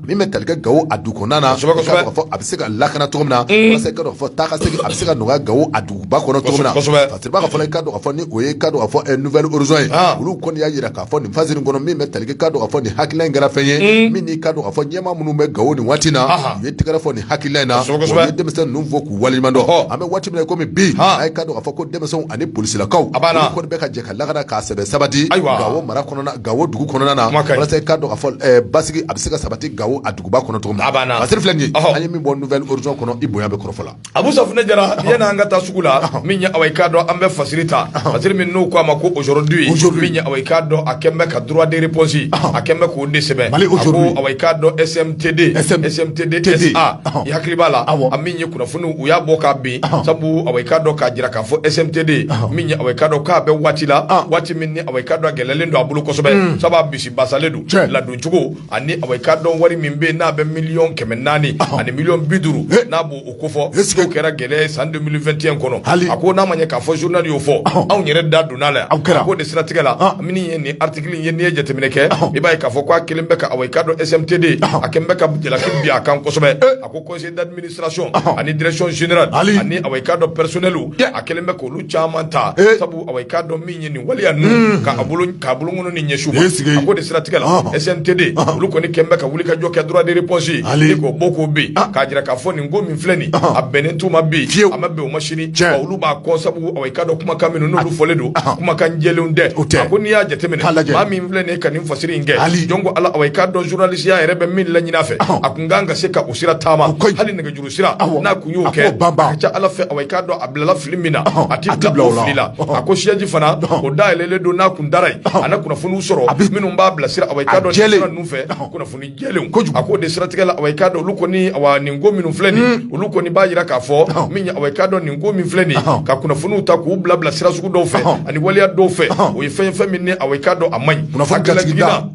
min bɛ tali kɛ gawo a dugu kɔnɔna na k'a dɔn k'a fɔ a bɛ se ka lakana cogo min na walasa k'a dɔn k'a fɔ taa ka segin a bɛ se ka nɔgɔya gawo a dugu ba kɔnɔ cogo min na kosɛbɛ parce que ba ka fana i ka dɔn ka fɔ ni o ye ka dɔn ka fɔ ɛ Nouvel Horizon ye aa olu kɔni y'a jira k'a fɔ nin fasiri in kɔnɔ min bɛ tali kɛ i ka dɔn ka fɔ nin hakilina in kɛra fɛn ye min n'i ka dɔn ka fɔ ɲɛmaa minnu bɛ Gawo nin waati in na Aha. u ye tɛgɛrɛ fɔ nin hakilina in na Kosɛbɛ, kosɛbɛ. u ye denmisɛn ninnu fo k'u waleɲuman dɔn Ɔhɔ. an bɛ waati min na i komi bi Han. a ye ka dɔn ka fɔ ko denmisɛnw ani polisilakaw A b'a la. olu kɔni bɛ ka jɛ ka lakana k'a sɛbɛ sabati Ayiwa. Gawo mara kɔnɔna Gawo dugu kɔnɔna na Kuma ka ɲi. walasa i ka dɔn ka fɔ ɛ, basigi a bɛ se ka sabati Gawo a duguba kɔnɔ cogo min A b'a la. Fasiri filɛ nin ye Ɔhɔ. an ye min bɔ Nouvel Horizon kɔnɔ i bonya bɛ kɔrɔfɔ la abu safunɛ jara yanni an ka taa sugu la min ye awa i k'a dɔn an bɛ fasiri ta fasiri min n'u ko a ma ko aujourd'hui min ye awa i k'a dɔn a kɛn bɛ ka droit de réponse a kɛn bɛ k'o de sɛbɛn a ko awa i k'a dɔn SMTD SMTD SA i hakili b'a la a min ye kunnafoniw u y'a bɔ k'a bin sabu awa i k'a dɔn k'a jira k'a fɔ SMTD min ye awa i k'a dɔn k'a bɛ waati la waati min ni awa i k'a dɔn a gɛlɛyalen don a bolo kosɛbɛ sabu a bisibasalen don ladoncogo ani awa i k'a dɔn wari min bɛ n'a bɛ miliyɔn kɛmɛ naani ani miliyɔn bi duuru n'a b'o kofɔ k'o kɛra gɛlɛya san deux mille vingt et un kɔnɔ hali a ko n'a ma ɲɛ k'a fɔ journal y'o fɔ anw yɛrɛ da donn'a la o kɛra a ko de siratigɛ la min ye nin article ye n'i ye jateminɛ kɛ i b'a ye k'a fɔ k'a kɛlen bɛ ka awa i k'a dɔn SMTD a kɛlen bɛ ka jalaki bin a kan kosɛbɛ A ko conseil d'administration ani direction générale hali ani awa i k'a dɔn personnel a kɛlen bɛ k'olu caman ta sabu awa i k'a dɔn min ye nin waleya ninnu k'a bolonkɔnin ɲɛsin u ma a ko de siratigɛ la SMTD olu kɔni kɛlen bɛ ka wuli ka jɔ kɛ droit de réponse hali k'o bɔ k'o bin k'a jira k'a fɔ nin ko min filɛ nin a bɛnnen t'u ma bi fiye a ma bɛn u ma sini cɛ olu b'a kɔ sabu awa i k'a dɔn kumakan minnu n'olu fɔlen don kumakan jɛlen tɛ o tɛ ko n'i y'a jateminɛ maa min filɛ nin ka nin fasiri in kɛ hali jɔn ko ala awa i k'a dɔn zurunalisiya yɛrɛ bɛ min laɲini a fɛ n ka kan ka se k'o sira taama hali nɛgɛjuru sira n'a tun y'o kɛ a ka ca ala fɛ awa i k'a dɔn a bilala fili min na a tɛ bila o fili la a ko siège fana o dayɛlɛlen don n'a kun dara yen a na kunnafoniw sɔrɔ a minnu b'a bilasira awa i k'a dɔn sira ninnu fɛ kunnafoni jɛlen kojugu a ko de siratigɛ la awa i k'a dɔn olu kɔni nin ko minnu filɛ nin hmm. olu kɔni b'a jira k'a fɔ min ye awa i k'a dɔn nin ko min filɛ nin ka kunnafoniw ta k'u bila bila sira sugu dɔw fɛ ani waleya dɔw fɛ o ye fɛn fɛn min ni awa i k'a dɔn a man ɲi kunnafoni jatigida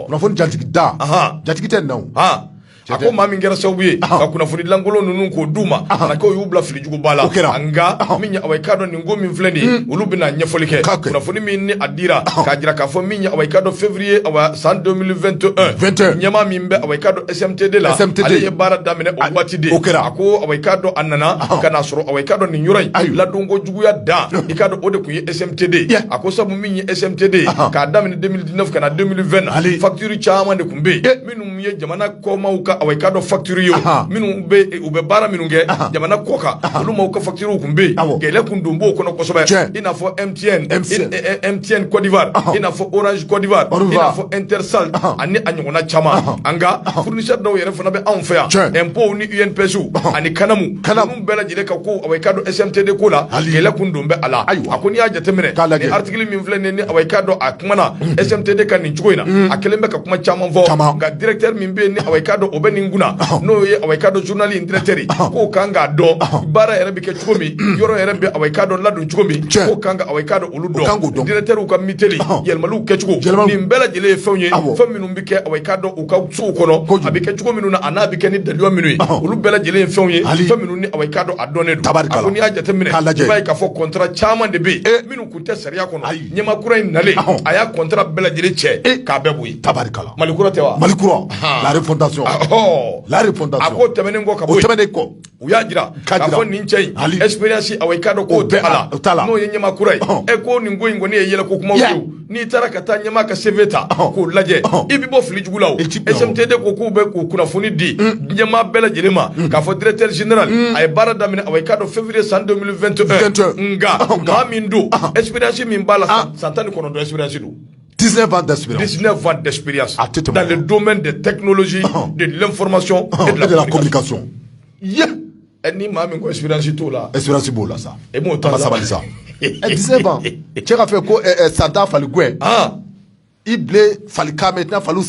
kunnafoni jatigida jatigi tɛ nɔ a ko maa min kɛra sababu ye ka kunnafonidi lankolon ninnu k'o d'u ma a k'o y'u bila filijuguba la o kɛra nka min ye awa i k'a dɔn nin ko min filɛ nin hmm. olu bɛna ɲɛfɔli kɛ kunnafoni min ni a dira k'a jira k'a fɔ min ye awa i k'a dɔn février san deux mille vingt et un ɲɛmaa min bɛ awa i k'a dɔn SMTD la ale ye baara daminɛ o waati de o kɛra a ko awa i k'a dɔn a nana ka n'a sɔrɔ awa i k'a dɔn nin yɔrɔ in ladon Juguya dan i k'a dɔn o de tun ye SMTD a ko sabu min ye SMTD k'a daminɛ deux mille dix-neuf ka na deux mille vingt na hali facture caman de tun bɛ yen minnu ye jamana kɔmaaw ka awa i k'a dɔn facture ye minnu u bɛ baara minnu kɛ jamana kɔkan olu maaw ka facturew tun bɛ yen gɛlɛya tun don b'o kɔnɔ kosɛbɛ i n'a fɔ MTN Côte d'Ivoire i n'a fɔ Orange Côte d'Ivoire i n'a fɔ Intercel ani a ɲɔgɔnna caman an ka fournisseur dɔw yɛrɛ fana bɛ anw fɛ yan impôt ni INPS ani CANAM bɛɛ lajɛlen ka ko awa i k'a dɔn SMTD ko la gɛlɛ kun don bɛ a la ayiwa a ko n'i y'a jateminɛ ni article min filɛ nin awa i k'a dɔn a kumana SMTD kan nin cogo in na a kɛlen bɛ ka kuma caman fɔ nka directeur min bɛ ni awa i k'a dɔn o bɛ nin kunna n'o ye awa i k'a dɔn journal in directeur k'o kan k'a dɔn baara yɛrɛ bɛ kɛ cogo min yɔrɔ yɛrɛ bɛ awa i k'a dɔn ladon cogo min k'o kan ka awa i k'a dɔn olu dɔn directeurw ka miteli yɛlɛmaliw kɛcogo nin bɛɛ lajɛlen ye fɛnw ye fɛn minnu bɛ kɛ awa i k'a dɔn u ka sow kɔnɔ a bɛ kɛ cogo minnu na a n'a bɛ kɛ ni dalilu minnu ye olu bɛɛ lajɛlen ye fɛnw ye fɛn minnu ni awa i k'a dɔn a dɔnnen don a ko n'i y'a jateminɛ i b'a ye k'a fɔ contrat caman de bɛ yen minnu kun tɛ sariya kɔnɔ ɲɛma kura in nalen a y'a contrat bɛɛ lajɛlen cɛ k'a bɛɛ bɔ yen mali kura tɛ wa mali kura la refondation a ko tɛmɛnen kɔ ka tɛmɛnen kɔ u y'a jira k'a fɔ nin cɛ in expérience awa i k'a dɔn k'o tɛ a la n'o ye ɲɛma kura ye ɛ ko nin ko in kɔni ye yɛlɛko kumaw ye o n'i taara ka taa ɲɛma ka CV ta k'o lajɛ i bɛ bɔ fili jugu la o SMTD ko k'u bɛ k'u kunnafoni di ɲɛma bɛɛ lajɛlen ma k'a fɔ directeur général a ye baara daminɛ awa i k'a dɔn février san 2021 nka maa min don expérience min b'a la san tan ni kɔnɔntɔn expérience don 19 ans d'expérience. 19 ans d'expérience. Ah, dans le domaine des technologies, ah. de l'information ah, et, de la, communication. Yeah. Ɛ a ni maa min ko expérience t'o la. expérience b'o la sa. e m'o t'a la sabali sa. ɛ 19 ans cɛ ka fɛ ko ɛ san tan fali gɛn. i bilen fali kan mɛn i tɛna faliw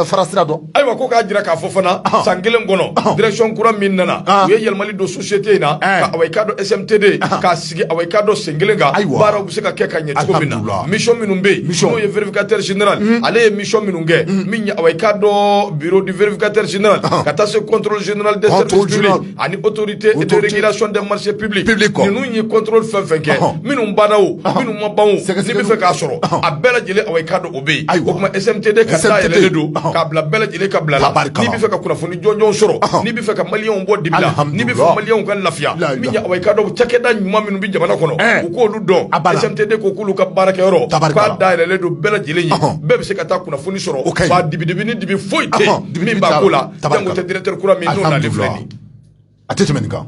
fara sira dɔn. ayiwa ko k'a jira k'a fɔ fana san kelen kɔnɔ direction kura min nana u ye yɛlɛmali don société in na ka awa i k'a dɔn SMTD k'a sigi awa i k'a dɔn sen kelen kan ayiwa baaraw bɛ se ka kɛ ka ɲɛ cogo min na mission minnu bɛ yen n'o ye vérificateur général mm. ale ye mission minnu kɛ mm. min ye awa i k'a dɔn bureau du vérificateur général ah. ka taa se contrôle général des services publics ani autorité de régulation des marchés publics ninnu ye contrôle fɛn fɛn kɛ ah. minnu banna o ah. minnu ma ban o n'i bɛ fɛ k'a sɔrɔ a bɛɛ lajɛlen awa i k'a dɔn o bɛ yen o kuma SMTD k'a dayɛlɛlen don k'a bila bɛɛ lajɛlen ka bila la n'i bɛ fɛ ka kunnafoni jɔnjɔn sɔrɔ n'i bɛ fɛ ka maliyɛnw bɔ dibi la n'i bɛ fɛ maliyɛnw ka lafiya min ye awa i k'a dɔn cakɛda ɲuman minnu bɛ jamana kɔnɔ u k'olu dɔn SMTD ko k'olu ka baarakɛyɔrɔ k'a dayɛlɛlen don bɛɛ lajɛlen ye bɛɛ bɛ se ka taa kunnafoni sɔrɔ o ka ɲi wa dibi-dibi ni dibi foyi tɛ yen min b'a ko la jango tɛ directeur kura min n'o nalen filɛ nin ye a tɛ tɛmɛ nin kan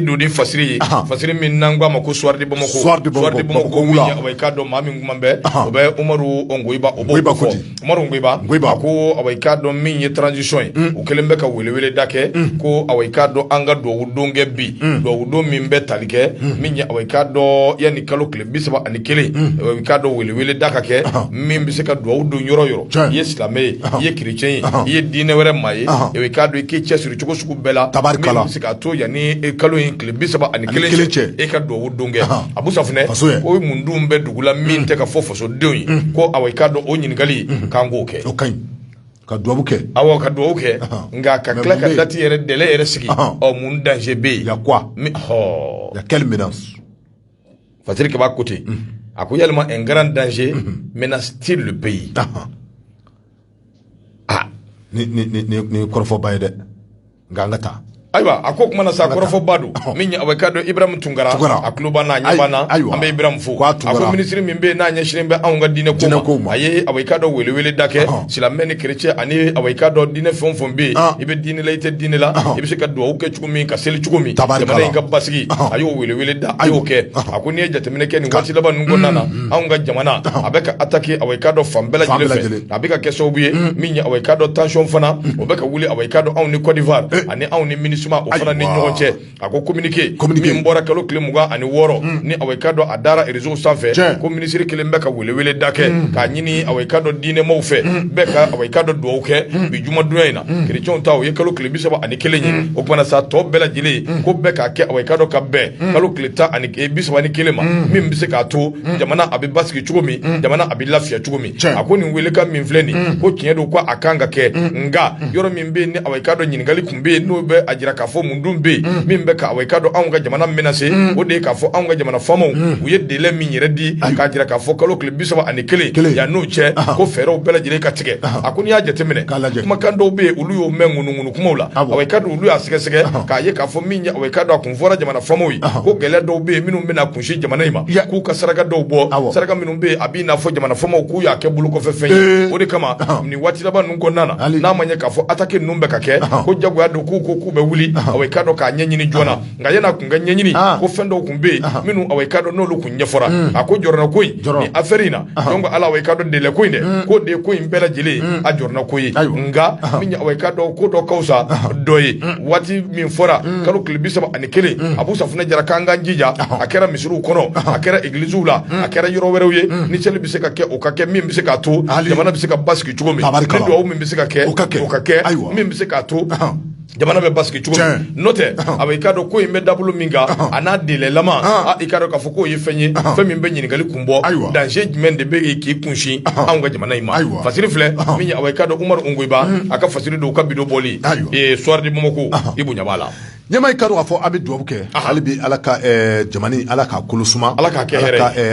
don ni fasiri ye fasiri min n'an ko a ma ko Soir de Bamako Soir de Bamako ko wula awa i k'a dɔn maa min kuma bɛ o bɛ umaru ngoyiba o b'o fɔ umaru ngoyiba ngoyiba ko awa i k'a dɔn min ye transition ye o kɛlen bɛ ka welewele da kɛ ko awa i k'a dɔn an ka duwawu don kɛ bi duwawu don min bɛ tali kɛ min ye awa i k'a dɔn yanni kalo tile bi saba ani kelen i k'a dɔn welewele da ka kɛ min bɛ se ka dugawu don yɔrɔ yɔrɔ i ye silamɛ ye i ye kerecɛn ye i ye diinɛ wɛrɛ maa ye i k'a dɔn i k'i cɛsiri cogo sugu bɛɛ la min bɛ se k'a to yanni kalo in tile bi saba ani kelen cɛ e ka dugawu don kɛ Abu Safunɛ ko mun dun bɛ dugu la min tɛ ka fɔ fasodenw ye ko i k'a dɔn o ɲininkali k'an k'o kɛ ka ka dugawu kɛ awɔ ka dugawu kɛ nka ka tila ka dati yɛrɛ délai yɛrɛ sigi ɔ mun danger bɛ yen y a quoi y a quelle fasiri kabako tɛ a ko yalima un grand danger menace-t-il le pays ah ni kɔrɔfɔba ye dɛ nka an ka taa ayiwa a ko kuma na sa kɔrɔfɔba don min ye ka dɔn ibrahim tunkara Tunkara. a tuloba n'a ɲɛba na Ayi- ayiwa. an bɛ ibrahim fo Ko a a Tunkara. ko minisiri min bɛ yen n'a ɲɛsinnen bɛ anw ka diinɛ ko Diinɛ kow ma ma. a ye ka dɔn welewele da kɛ Ɔhɔn. silamɛ ni kerecɛn ani ka dɔn diinɛ fɛn o fɛn bɛ yen Ɔn. i bɛ diinɛ la i tɛ diinɛ la Ɔhɔn. i bɛ se ka dugawu kɛ cogo min ka seli cogo min jamana in ka basigi a y'o welewele da a y'o kɛ a ko n'i ye jateminɛ kɛ nin waati laban ninnu kɔnɔna na mm, mm. anw ka jamana a bɛ ka attaquer a ka dɔn fan bɛɛ lajɛlen fɛ a bɛ ka kɛ sababu ye mm. min ye a ka dɔn tansiyɔn fana o bɛ ka wuli a ka dɔn anw ni Côte d'Ivoire eh. ani anw ni MINUSMA o fana ni ɲɔgɔn cɛ a ko communiqué min bɔra kalo tile mugan ani wɔɔrɔ ni a ka dɔn a dara réseau sanfɛ ko minisiri kelen bɛ ka welewele da kɛ k'a ɲini a ka dɔn diinɛmaw fɛ bɛɛ ka a ka dɔn dugawu kɛ bi jumadonya in na kerecɛnw ta o ye kalo tile bi saba ani kelen ye o tuma na sa tɔ bɛɛ lajɛlen ko bɛɛ k'a kɛ a ka dɔn ka bɛn kalo tile tan ani bi saba ni kelen ma min bɛ se k'a to jamana a bɛ basigi cogo min jamana a bɛ lafiya cogo min a ko nin welekan min filɛ nin ko tiɲɛ don ko a kan ka kɛ nka yɔrɔ min bɛ ni a ka dɔn ɲininkali tun bɛ yen n'o bɛ a jira k'a fɔ mun dun bɛ yen min bɛ ka a ka dɔn anw ka jamana menacer o de ye k'a fɔ anw ka jamana faamaw u ye délai min yɛrɛ di k'a jira k'a fɔ kalo tile bi saba ani kelen yan n'o cɛ ko fɛɛrɛw bɛɛ lajɛlen ka tigɛ a ko n'i y'a jateminɛ kumakan dɔw bɛ yen olu y'o mɛn ŋunuŋunu kumaw la a ka dɔn olu y'a sɛgɛsɛgɛ k'a ye k'a fɔ min ye a ka dɔn a kun fɔra jamana faamaw ye ko gɛlɛn dɔw bɛ yen minnu bɛna kunsi jamana in ma k'u ka saraka dɔw bɔ saraka minnu bɛ yen a b'i n'a fɔ jamana faamaw k'u y'a kɛ bolo kɔfɛ fɛn ye o de kama nin waati laban ninnu kɔnɔna na n'a ma ɲɛ k'a fɔ ataki ninnu bɛ ka kɛ ko jagoya don k'u ko k'u bɛ wuli a ka dɔn k'a ɲɛɲini joona nka yann'a kun ka ɲɛɲini ko fɛn dɔw tun bɛ yen minnu a i ka dɔn n'olu tun ɲɛfɔra a ko jɔrɔna ko in ni affaire in na donc ala i ka dɔn délai ko in dɛ ko de ko in bɛɛ lajɛlen a jɔrɔna ko ye nka min ye a i ka dɔn ko dɔ ka fisa dɔ ye waati min fɔra kalo tile bi saba ani kelen Abu Safunɛ Jara k'an k'an jija a kɛra misiriw kɔnɔ a kɛra egilisiw la a kɛra yɔrɔ wɛrɛw ye ni seli bɛ se ka kɛ o ka kɛ min bɛ se k'a to jamana bɛ se ka basigi cogo min ni dugawu min bɛ se ka kɛ o ka kɛ min bɛ se ka to jamana bɛ basigi cogo min n'o tɛ a i k'a dɔn ko in bɛ dabolo min kan a n'a delɛlama i k'a dɔn k'a fɔ k'o ye fɛn ye fɛn min bɛ ɲininkali kun bɔ ayiwa danger jumɛn de bɛ k'i kunsin anw ka jamana in ma ayiwa fasiri filɛ min ye a k'a dɔn Umaru Ongoïba a ka fasiri don u ka bi don bɔli Soir de Bamako i bonya b'a la ɲɛma i k'a dɔn k'a fɔ an bɛ dugawu kɛ hali bi ala ka jamana ala ka kolo suma ala ka kɛ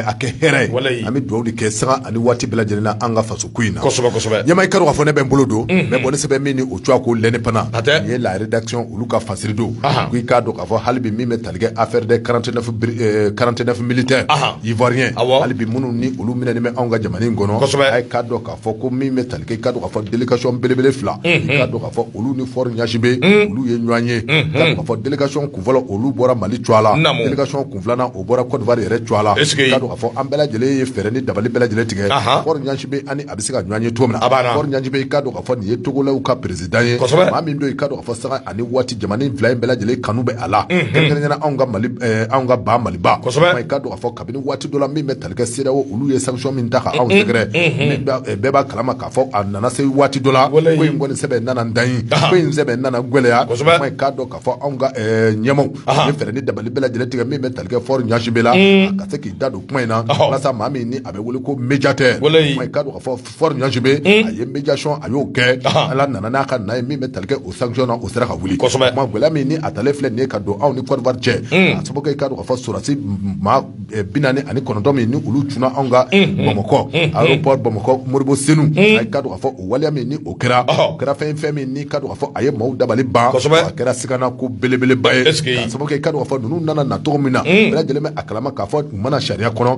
a kɛ hɛrɛ ye an bɛ dugawu kɛ sanga ani waati bɛɛ lajɛlen na an ka faso ko in na ɲɛma i k'a dɔn k'a fɔ ne bɛ n bolo don bɔn sɛbɛn min tɔgɔ ye ko l'indépendant hatɛ nin ye la rédaction olu ka fasiri don Ahan. ko i k'a dɔn k'a fɔ hali bi min bɛ tali kɛ affaire des 49 bri- euh, 49 militaires Ahan. ivoiriens Awɔ. hali bi minnu ni olu minɛni bɛ anw ka jamana in kɔnɔ Kosɛbɛ. a ye k'a dɔn k'a fɔ ko min bɛ tali kɛ i k'a dɔn k'a fɔ délégation belebele fila i k'a dɔn k'a fɔ olu ni Faure Gnassingbé olu ye ɲɔgɔn ye k'a dɔn k'a fɔ délégation kun fɔlɔ olu bɔra Mali cogoya la Naamu. délégation kun filanan o bɔra Côte d'Ivoire yɛrɛ cogoya la Est-ce que- k'a dɔn k'a fɔ an bɛɛ lajɛlen ye fɛɛrɛ ni dabali bɛɛ lajɛlen tigɛ Ahan. Faure Gnassingbé ani a bɛ se ka ɲɔgɔn ye cogo min na A b'a na. Faure Gnassingbé i k'a dɔn k'a fɔ nin ye togolɛw ka président ye maa min don i k'a dɔn k'a fɔ sanga ani waati jamana in fila in bɛɛ lajɛlen kanu bɛ a la kɛrɛnkɛrɛnnenya anw ka mali eh, anw ka ba maliba i k'a dɔn k'a fɔ kabini waati dɔ la min bɛ talikɛ CEDEAO olu ye sanction min ta ka anw sɛgɛrɛ eh, bɛɛ b'a kalama k'a fɔ a nana se waati dɔ la ko in kɔni sɛbɛn nana dan ye ko in sɛbɛn nana gɛlɛya i k'a dɔn k'a fɔ anw ka eh, ɲɛmaw ye fɛɛrɛ ni dabali bɛɛ lajɛlen tigɛ min bɛ talikɛ Faure Gnassingbé la mm. ka se k'i da don kuma in na walasa maa min ni a bɛ wele ko médiateur i k'a dɔn k'a fɔ Faure Gnassingbé a ye médiation a y'o kɛ ala nana n'a ka na ye min bɛ talikɛ o sanction o sera ka wuli gɛlɛya min ni a talen filɛ nin ye k'a dɔn anw ni Côte d'Ivoire cɛ a sababu kɛ i k'a dɔn k'a fɔ sɔrɔdasi maa bi naani ani kɔnɔntɔn min ni olu cunna anw ka bamakɔ aéroport bamakɔ modibo senu a k'a dɔn k'a fɔ o waleya min ni o kɛra kɛra fɛn fɛn min ni k'a dɔn k'a fɔ a ye maaw dabali ban a kɛra sigana ko belebeleba ye ka sababu kɛ i k'a dɔn k'a fɔ ninnu nana na cogo min na bɛɛ lajɛlen bɛ a kalama k'a fɔ u ma na sariya kɔnɔ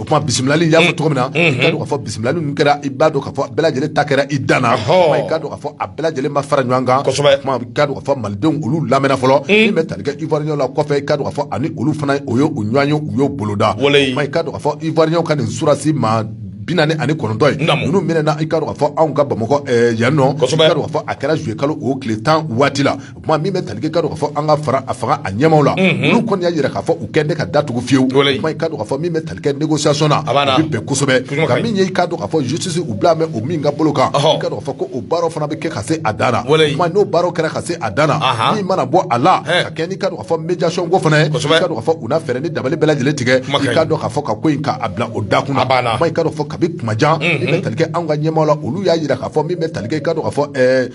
o tuma bisimilali y'a fɔ cogo min na i k'a dɔn k'a fɔ bisimilali in kɛra i b'a dɔn k'a fɔ bɛɛ lajɛlen ta kɛra i dan na i k'a dɔn k'a fɔ a bɛɛ lajɛlen ma fara ɲɔgɔn kan i k'a dɔn k'a fɔ malidenw olu lamɛnna fɔlɔ min bɛ talikɛ ivoirienw la kɔfɛ i k'a dɔn k'a fɔ ani olu fana o ye u ɲɔgɔn ye u y'o boloda i k'a dɔn k'a fɔ ivoirienw ka nin sɔrɔdasi maa bi naani ani kɔnɔntɔn ye minnu minɛna i k'a dɔn k'a fɔ anw ka bamakɔ yan nɔ i k'a dɔn k'a fɔ a kɛra juillet kalo o tile tan waati la o tuma min bɛ tali kɛ i ka dɔn k'a fɔ an ka fara a fanga a ɲɛmaaw la olu kɔni y'a jira k'a fɔ u kɔni tɛ ka da tugu fiyewu o tuma i ka dɔn k'a fɔ min bɛ tali kɛ négociation na o bɛ bɛn kosɛbɛ nka min ye i ka dɔn k'a fɔ justice u bilalen bɛ o min ka bolo kan i ka dɔn k'a fɔ ko o baaraw fana bɛ kɛ ka se a dan na o tuma n'o baaraw kɛra ka se a dan na min mana bɔ a la ka kɛɲɛ n'i ka dɔn k'a fɔ médiation ko fana ye i ka dɔn k'a fɔ u na fɛɛrɛ ni dabali bɛɛ lajɛlen tigɛ i ka dɔn k'a fɔ ka ko in ka a bila o da kunna i ka dɔn k'a fɔ kabi tuma jan min bɛ tali kɛ anw ka ɲɛmaaw la olu y'a jira k'a fɔ min bɛ tali kɛ i ka dɔn k'a fɔ ɛɛ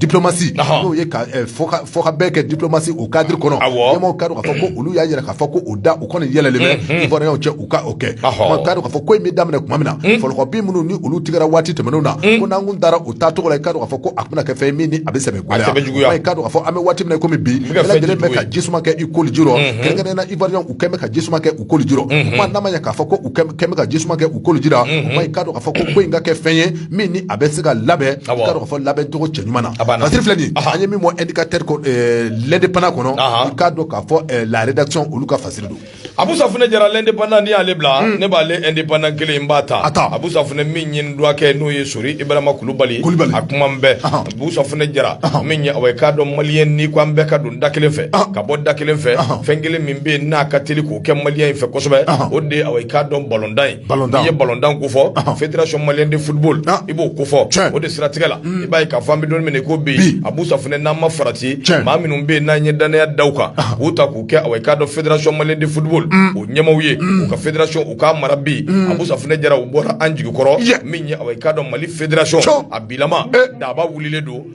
diplomatie n'o ye ka fɔ ka bɛɛ kɛ diplomatie o cadre kɔnɔ a ka dɔn ka fɔ olu y'a jira ka fɔ ko u da u kɔni yɛlɛlen bɛ ivoirienw cɛ u ka o kɛ ka fɔ ko in bɛ daminɛ tuma min na fɔlɔkɔ bin minnu ni olu tigɛra waati tɛmɛnenw na ko n'an kun taara o taacogo la ka fɔ ko a tɛna kɛ fɛn min ni a bɛ sɛbɛ gɛlɛya ka fɔ an bɛ waati min kɔmi bi bɛɛ ka ji suma kɛ i koliji rɔ kɛrɛnkɛrɛnnenya ivoirien u kɛmɛ ka ji suma kɛ u koliji rɔ n'a ma ɲɛ k'a fɔ ko u ka ji suma kɛ u koliji la ka fɔ ko in ka kɛ fɛn ye min ni a bɛ se ka labɛn ka dɔn ka fɔ labɛn cogo cɛ ɲuman na fasiri filɛ nin an ye min bɔ indicateur eh, l'indépendant kɔnɔ i k'a dɔn k'a fɔ eh, la rédaction olu ka fasiri don abu safunɛ jara l'indépendant ni y'ale bila hmm. ne b'ale indépendant kelen in b'a ta a taa abu safunɛ min ye n dɔgɔkɛ n'o ye sori ibrahima kulubali a kuma bɛɛ abu safunɛ jara min ye awa i k'a dɔn maliyɛn ni ko an bɛɛ ka don da kelen fɛ ka bɔ da kelen fɛ fɛn kelen min bɛ yen n'a ka teli k'o kɛ maliyɛn in fɛ kosɛbɛ o de awa i k'a dɔn balontan ye i ye balontan ko fɔ fitirirac mali de fubo i b'o ko fɔ o de siratigɛ la i b'a ka fan bɛ don minɛ ko bi a musa fana n'an ma farati maa minnu bɛ n'an ye danya da kan u ta k'u kɛ a k'a dɔn fitirirac mali de fubo o ɲɛw ye u ka firac u ka mara bi a musa jɛra u bɔra an jigi kɔrɔ min ka dɔn mali firac a bila daba wili don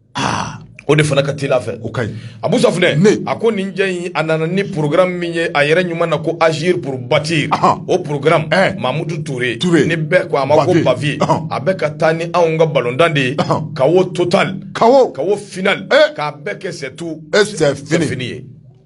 aa o de fana ka teli a fɛ o ka ɲi Abu Safunɛ a ko nin cɛ in a nana ni programme min ye a yɛrɛ ɲuman na ko agir pour bâtir ɔhɔn o programme ɛɛ Mamutu Ture ni bɛɛ ko a ma ko Baviye ɔhɔn a bɛ ka taa ni anw ka balontan de ye ɔhɔn Kawo total Kawo Kawo final ee k'a bɛɛ kɛ c'est tout ee c'est fini c'est fini ye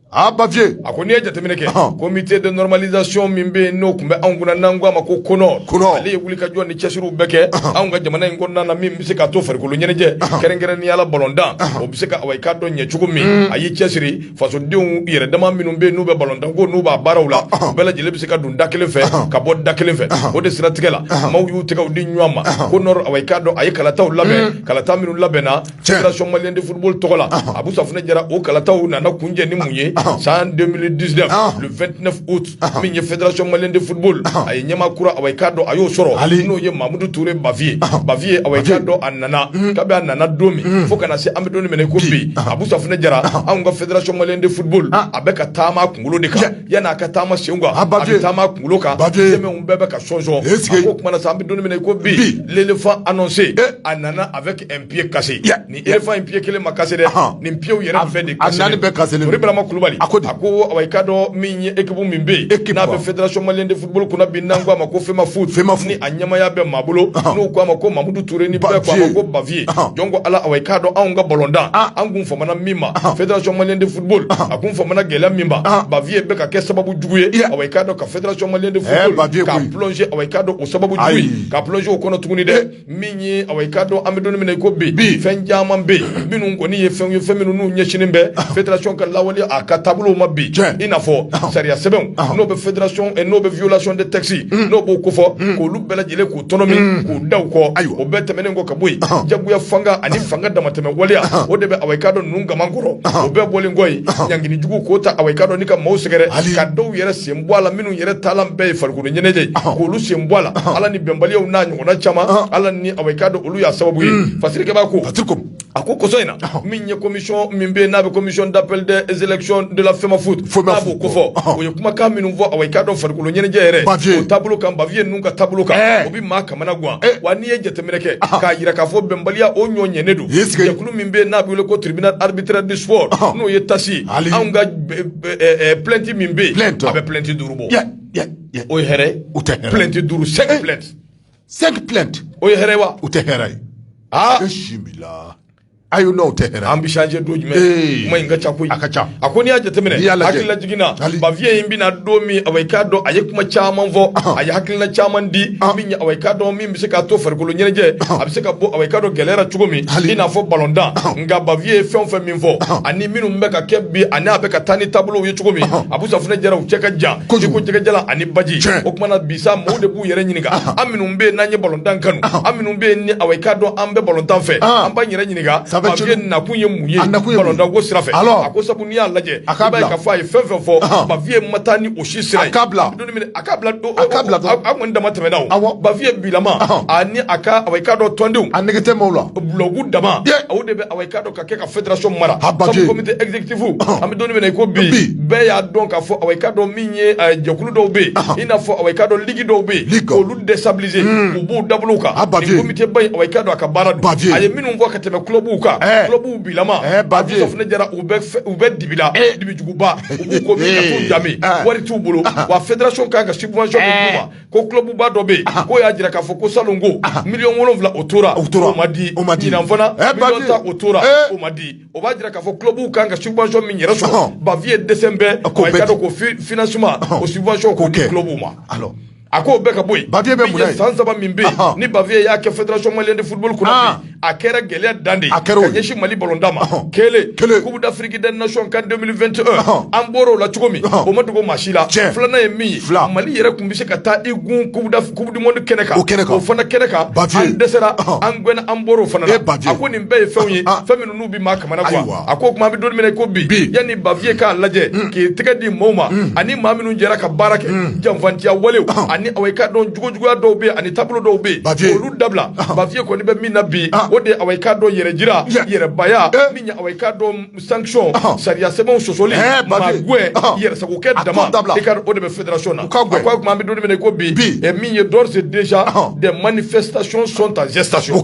A baviye a ko n'i ye jateminɛ kɛ comité de normalisation min bɛ yen n'o tun bɛ anw kunna n'an ko a ma ko CONOR ale ye wulikajɔ ni cɛsiriw bɛɛ kɛ anw ka jamana in kɔnɔna na min bɛ se k'a to farikolo ɲɛnajɛ kɛrɛnkɛrɛnnenya la balontan o bɛ se ka awa i ka dɔn ɲɛ cogo min a y'i cɛsiri fasodenw yɛrɛ dama minnu bɛ yen n'u bɛ balontan ko n'u b'a baaraw la bɛɛ lajɛlen bɛ se ka don da kelen fɛ ka bɔ da kelen fɛ o de siratigɛ la maaw y'u tɛgɛw di ɲɔgɔn ma CONOR awa i ka dɔn a ye kalataw labɛn kalata minnu labɛnna Cɛsɔn mali de furu tɔgɔ la a bɛ sɔrɔ jɛra o kalataw nana kun cɛ ni mun ye san den disi min ye fɛnsi mali de furu a ye ɲɛma kura a k'a dɔn a y'o sɔrɔ hali n'o ye mamudu tuure bafiye bafiye a dɔn a nana ka a nana don min fo kana se an bɛ don minɛ ko bi a bɛ jɛra anw ka fɛnsi mali de furu a bɛ ka taama kunkolo de kan yan n'a ka taama sen kan a ba taama kunkolo kan ba bɛɛ bɛ ka sonsɔn sigi o tumaumana san an bɛ don ko bi lefa a se a nana a Pye kasi ni e fa in pye kelen ma kasi dɛ nin pyew yɛrɛ fɛ de bɛma kulubali a ko a ko wa i ka dɔn min ye eki min bɛ e n'a bɛ fɛdasiɔnmalen de futbolo kunna bin n' koa ma ko fɛnma foyi fɛnma f a ɲamaya bɛɛ ma bolo n'u k'a ma ko mamudu ture ni ba ko bafiye jɔn ko ala wa i k'a dɔn anw ka bɔlɔnda an kun fa min ma fɛdasiɔnmalen de futbolo a kun fa gɛlɛya min bafiye bɛ ka kɛ sababu jugu ye a i k'a dɔn ka fɛdasiɔnmalen de ba ka pse a ka don o sababu ka psew kɔnɔ tuguni dɛ min ye awa i k'a dɔn an bɛ don min na i ko bi fɛn caman bɛ yen minnu kɔni ye fɛnw ye fɛn minnu n'u ɲɛsinnen bɛ ah. fédération ka lawaleya a ka taabolow ma bi i n'a fɔ ah. sariya sɛbɛnw ah. n'o bɛ fédération eh, n'o bɛ violation de texte hmm. n'o b'o kofɔ hmm. k'olu bɛɛ lajɛlen k'u tɔnɔmi hmm. k'u da u kɔ o bɛɛ tɛmɛnen kɔ ka bɔ yen jagoya fanga ani fanga damatɛmɛ waleya o de bɛ awa i k'a dɔn ninnu gaman kɔrɔ o bɛɛ bɔlen kɔ yen ɲangini jugu k'o ta awa i k'a dɔn ni ka maaw sɛgɛrɛ ka dɔw yɛrɛ sen bɔ a la minnu yɛrɛ taalan bɛɛ ye farikolo ɲɛnajɛ k'olu sen bɔ a la ala ni bɛnbaliyaw n'a ɲɔgɔnna caman ah. ala ni awa i k'a dɔn olu y'a sababu ye hmm. fasirikɛba ko a ko kɔsa in na ah. min ye commission min bɛ n'a bɛ commission d'appel des élections de la FEMAFOOT n'a b'o kofɔ ah. o ye kumakan minnu fɔ awa i k'a dɔn farikolo ɲɛnajɛ yɛrɛ o taabolo kan Bavieux ninnu ka taabolo kan eh. o bɛ maa kamanagan eh. wa n'i ye jateminɛ kɛ k'a jira k'a fɔ bɛnbaliya o ɲɔ ɲɛnen don jɛkulu min bɛ n'a bɛ wele ko tribunal arbitraire du sport n'o ye TAS anw ka eh, plainte min bɛ yen a bɛ plainte duuru bɔ o ye hɛrɛ ye plainte duuru cinq plaintes cinq plaintes o ye hɛrɛ wa o tɛ hɛrɛ ye aa e si la a ye n'aw tɛ an bɛ changer don jumɛn mais nin ka ca koyi a ka ca a ko n'i y'a jateminɛ y'a la hakilila jiginna Bavieux in bɛna don min awa i k'a dɔn a ye kuma caman fɔ a ye hakilila caman di awa i k'a dɔn min bɛ se k'a to farikolo ɲɛnajɛ a bɛ se ka bɔ awa i k'a dɔn gɛlɛya la cogo min i n'a fɔ balontan nka Bavieux ye fɛn fɛn min fɔ ani minnu bɛ ka kɛ bi ani a bɛ ka taa ni taabolo ye cogo min Abu Safunɛ Jara u cɛ ka jan i ko jɛgɛjalan ani baji o tuma na bisa maaw de b'u yɛrɛ ɲininka an minnu bɛ yen n'an ye balontan kanu an minnu bɛ yen ni awa i k'a dɔn an bɛ balontan fɛ an b'an yɛrɛ ɲininka Bavieux nakun ye mun ye balontan ko sira fɛ a ko sabu n'i y'a lajɛ i b'a ye k'a fɔ a ye fɛn fɛn fɔ Bavieux ma taa ni o si sira ye a ka bila a ka bila a kun damatɛmɛna o awɔ Bavieux bilama ani a ka awa i k'a dɔn tɔndenw a nege tɛ maaw la bulɔgu dama o de bɛ awa i k'a dɔn ka kɛ ka fédération mara a baki sabu comité exécutif an bɛ don min na i ko bi bɛɛ y'a dɔn k'a fɔ awa i k'a dɔn min ye jɛkulu dɔw bɛ yen i n'a fɔ awa i k'a dɔn ligue dɔw bɛ yen k'olu déstabiliser u b'u dabolow kan a baki comité ba in awa i k'a dɔn a ka baara don a ye minnu fɔ ka tɛmɛ clubw kan clubw bilama Abu Safunɛ Jara u bɛ u bɛ dibi la dibi ba u ko min ka t'u danbe ah. wari t'u bolo ah. wa fédération kan ka subvention min d'u ma eh. ko clubba dɔ bɛ yen ah. k'o y'a jira k'a fɔ ko salon ko miliyɔn wolonwula o tora o ma di ɲinan fana eh, miliyɔn tan o tora eh. o ma di o b'a jira k'a fɔ clubw kan ka subvention min yɛrɛ sɔrɔ Bavieux dɛsɛnen bɛ awa i k'a dɔn ko financement o subvention k'o di clubw ma. A ko bɛɛ ka bɔ yen bapi bɛ mun san saba min bɛ ni bapi y'a kɛ fɛn mali ni furu kɔnɔ a kɛra gɛlɛya dan de a kɛra ɲɛsi mali bɔda ma kelen kelen k'u bɛ da fki da naon ka denmisɛn2 an bɔra o la cogo min o ma dugu ma si la filanan ye min fila mali yɛrɛ tun bɛ se ka taa i gun ku kɛnɛ kɛnɛ o fana kɛnɛ kan ba dɛsɛsera an an bɔra o fana ba ko nin bɛɛ ye fɛn ye fɛn maa ka a ko kuma bɛ don min na i ko bi yanni Bavieux k'a lajɛ k'i tɛgɛ di maaw ma ani maa minnu jɛra ka baara kɛ janfatiya wale ani awa i k'a dɔn jogo juguya dɔw bɛ ani taabolo dɔw bɛ yen baye olu dabila Bavieux kɔni bɛ min na bi o de awa i k'a dɔn yɛrɛ jira yɛrɛbaya min awa i k'a dɔn sanction sariya sɛbɛnw sɔsɔli maa gɛn yɛrɛsagokɛ dama i ko o de bɛ fédération na ko kuma bɛ don min na i ko bi min ye d'ores et déjà des manifestations sont en gestation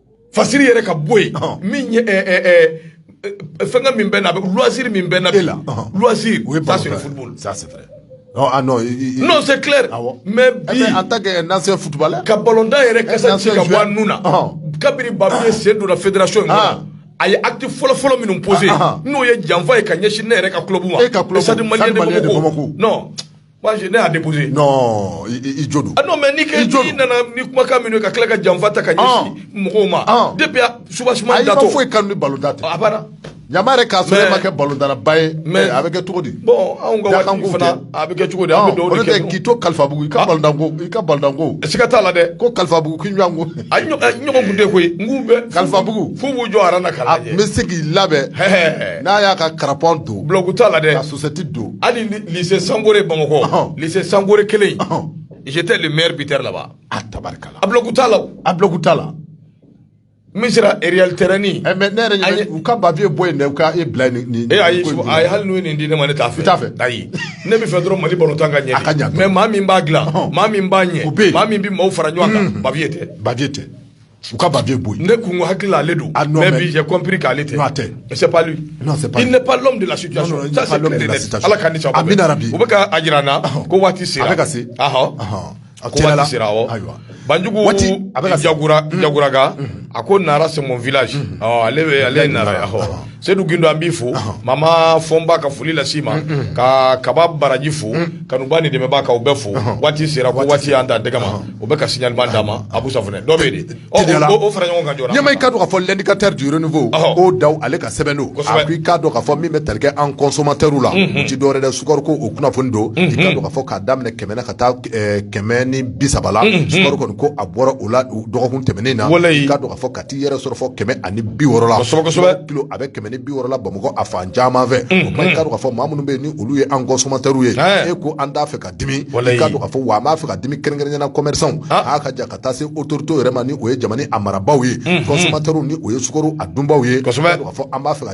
fasiri yɛrɛ ka bɔ yen min ye fɛn ka min bɛ na a bɛ loisir min bɛ na e la loisir o ye ça c'est le football ça c'est vrai non ah non non c'est clair mais eh bi en tant qu'ancien footballeur ka balɔntan yɛrɛ kasa ci ka bɔ a nun na kabiri Bavieux sen donna fédération in kɔnɔ a ye acte fɔlɔ fɔlɔ minnu posé n'o ye janfa ye ka ɲɛsin ne yɛrɛ ka club ma e ka club stade malien de Bamako non Mais ne y'a déposer i jo don n' mɛ ni kɛ jo nana ni kumakan minɛ ka tila ka janfa ta ka ɲɛsin mɔgɔw ma de suba da fo i ka balɔntan a banna ɲa de k'a sɔrɔ ma kɛ balɔntannaba ye mais a bɛ kɛ cogo di bon a bɛ kɛ cogo di k'i to kalifabugu i ka i ka balɔntanko sika t'a la dɛ ko kalifabugu ɲɔgɔn de koyi n bɛ kalifabugu fo b'u jɔ na ka n bɛ se k'i labɛn n'a y'a ka crampon don blague t'a la dɛ Sɛti don hali lycée sankore bamakɔ lycée sankore kelen j'étais le meilleur buteur là-bas a tabarikala a blague t'a la misira Réal terrain nin mais ne yɛrɛ u ka Bavieux bɔ yen ka e bila nin e ayi a ye hali n'u nin di ne ma ne t'a fɛ t'a fɛ ayi ne bɛ fɛ dɔrɔn mali balɔntan ka ɲɛ ka ɲa mais maa min b'a dilan maa min b'a ɲɛ maa min bɛ maaw fara ɲɔgɔn kan Bavieux tɛ Bavieux tɛ u ka Bavieux bɔ yen ne kun ko hakili la ale don ah, mais bi j'ai compris k'ale tɛ non tɛ c'est pas lui non c'est pas il n'est pas l'homme de la situation non, non, ça c'est clair et net ala ka ni sababa amiina yarabi u bɛ ka a jira an na ko waati sera a bɛ ka se ahɔ ko waati sera awɔ ayiwa banjugu jagura mm. jaguraga mm. a ko nara c'est mon village mm. ɔ ale bɛ ale ye nara ye ahɔ sedu gindo an b'i fo mama fɔnba ka foli lase ma ka kaba baraji fo kanubaa ni dɛmɛbaa ka u bɛɛ fo waati sera ko waati an ta dɛgɛ ma o bɛ ka signal min d'an ma abu safune dɔ bɛ dɔ fara ɲɔgɔn kan ɲama i k'a dɔn k'a fɔ l'Indicateur du Renouveau O. Dao ale ka sɛbɛn don i k'a dɔn k'a fɔ min bɛ tali kɛ an consommateurs la o tɛ dɔwɛrɛ de sukaro ko o kunnafoni don i k'a dɔn k'a fɔ k'a daminɛ kɛmɛ na ka taa kɛmɛ ni bi saba la sukaro kɔni ko a bɔra o la dɔgɔkun tɛmɛnen na ka fɔ t'i yɛrɛ sɔrɔ fo kɛmɛ ani bi wɔɔrɔ la kosɛbɛ kosɛbɛ kilo a bɛ kɛmɛ ni bi wɔɔrɔ la bamakɔ a fan caman fɛ o ma i k'a dɔn k'a fɔ maa minnu bɛ yen ni olu ye an consommateurs ye Ɛɛ. e ko an t'a fɛ ka dimi Walayi. i k'a dɔn k'a fɔ wa an b'a fɛ ka dimi kɛrɛnkɛrɛnnenya la commerçants Ah. a ka jan ka taa se autorités yɛrɛ ma ni o ye jamana a marabaaw ye consommateurs ni o ye sukaro a dunbaaw ye Kosɛbɛ. i k'a dɔn k'a fɔ an b'a fɛ ka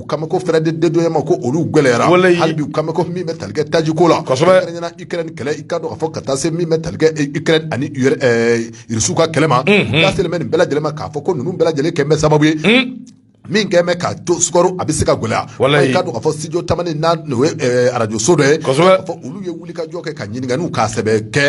u kama ko frais de dédouanement ko olu gwɛlɛyara hali bi u kama ko min bɛ tali kɛ taji ko la kɛrɛnkɛrɛnya na Ukraine kɛlɛ i ka dɔn k'a fɔ ka taa se min bɛ tali kɛ e, Ukraine ani ur- ɛɛ, Irisiw ka kɛlɛ ma unhun. k'a selen bɛ nin bɛɛ lajɛlen ma k'a fɔ ko ninnu bɛɛ lajɛlen kɛlen bɛ sababu ye min kɛlen bɛ k'a to sukaro a bɛ se ka gwɛlɛya i ka dɔn k'a fɔ studio tamani n'a n'o ye ɛɛ, arajoso dɔ ye ka dɔn k'a fɔ olu ye wuli ka jɔ kɛ ka ɲininkaliw k'a sɛbɛ kɛ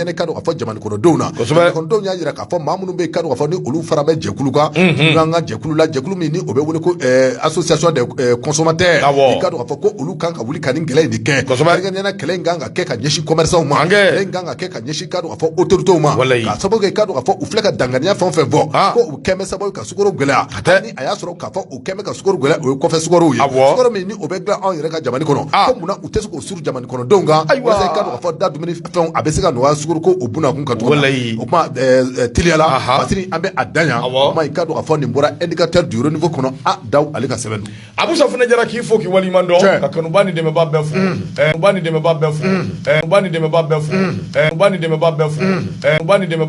i ka dɔn k'a fɔ jamana kɔnɔdenw na jamana kɔnɔdenw y'a jira k'a fɔ maa minnu bɛ yen ka dɔn k'a fɔ ni olu fara bɛ jɛkulu kan n'an ka jɛkulu la jɛkulu min ni o bɛ wele ko association des consommateurs i ka dɔn k'a fɔ ko olu kan ka wuli ka nin kɛlɛ in de kɛ ɲɛna kɛlɛ in kan ka kɛ ka ɲɛsin commerçants ma kɛlɛ in kan ka kɛ ka ɲɛsin ka dɔn k'a fɔ autorités ma k'a sababu kɛ k'a fɔ u filɛ ka danganiya fɛn o fɛn bɔ ko u kɛlen bɛ sababu ka sukoro gɛlɛya a y'a sɔrɔ k'a fɔ u kɛlen bɛ ka sukoro gɛlɛ o ye kɔfɛ sukoro ye sukoro min ni o bɛ dilan anw yɛrɛ ka jamana kɔnɔ ah. ko munna u tɛ se k'o suru jamana kɔnɔdenw kan walasa i ka dɔn k'a fɔ da dumuni fɛnw a bɛ se ka nɔgɔya sukoro ko o bunakun kan cogo min o kuma eh, eh, teliyala Masiri an bɛ a dan yan o kuma i ka dɔn k'a fɔ nin bɔra indicateur du renouveau kɔnɔ A. Daw ale ka sɛbɛn don Abusa Funɛ Jara k'i fo k'i waleɲuman dɔn ka kanubaa ni dɛmɛbaa bɛɛ fo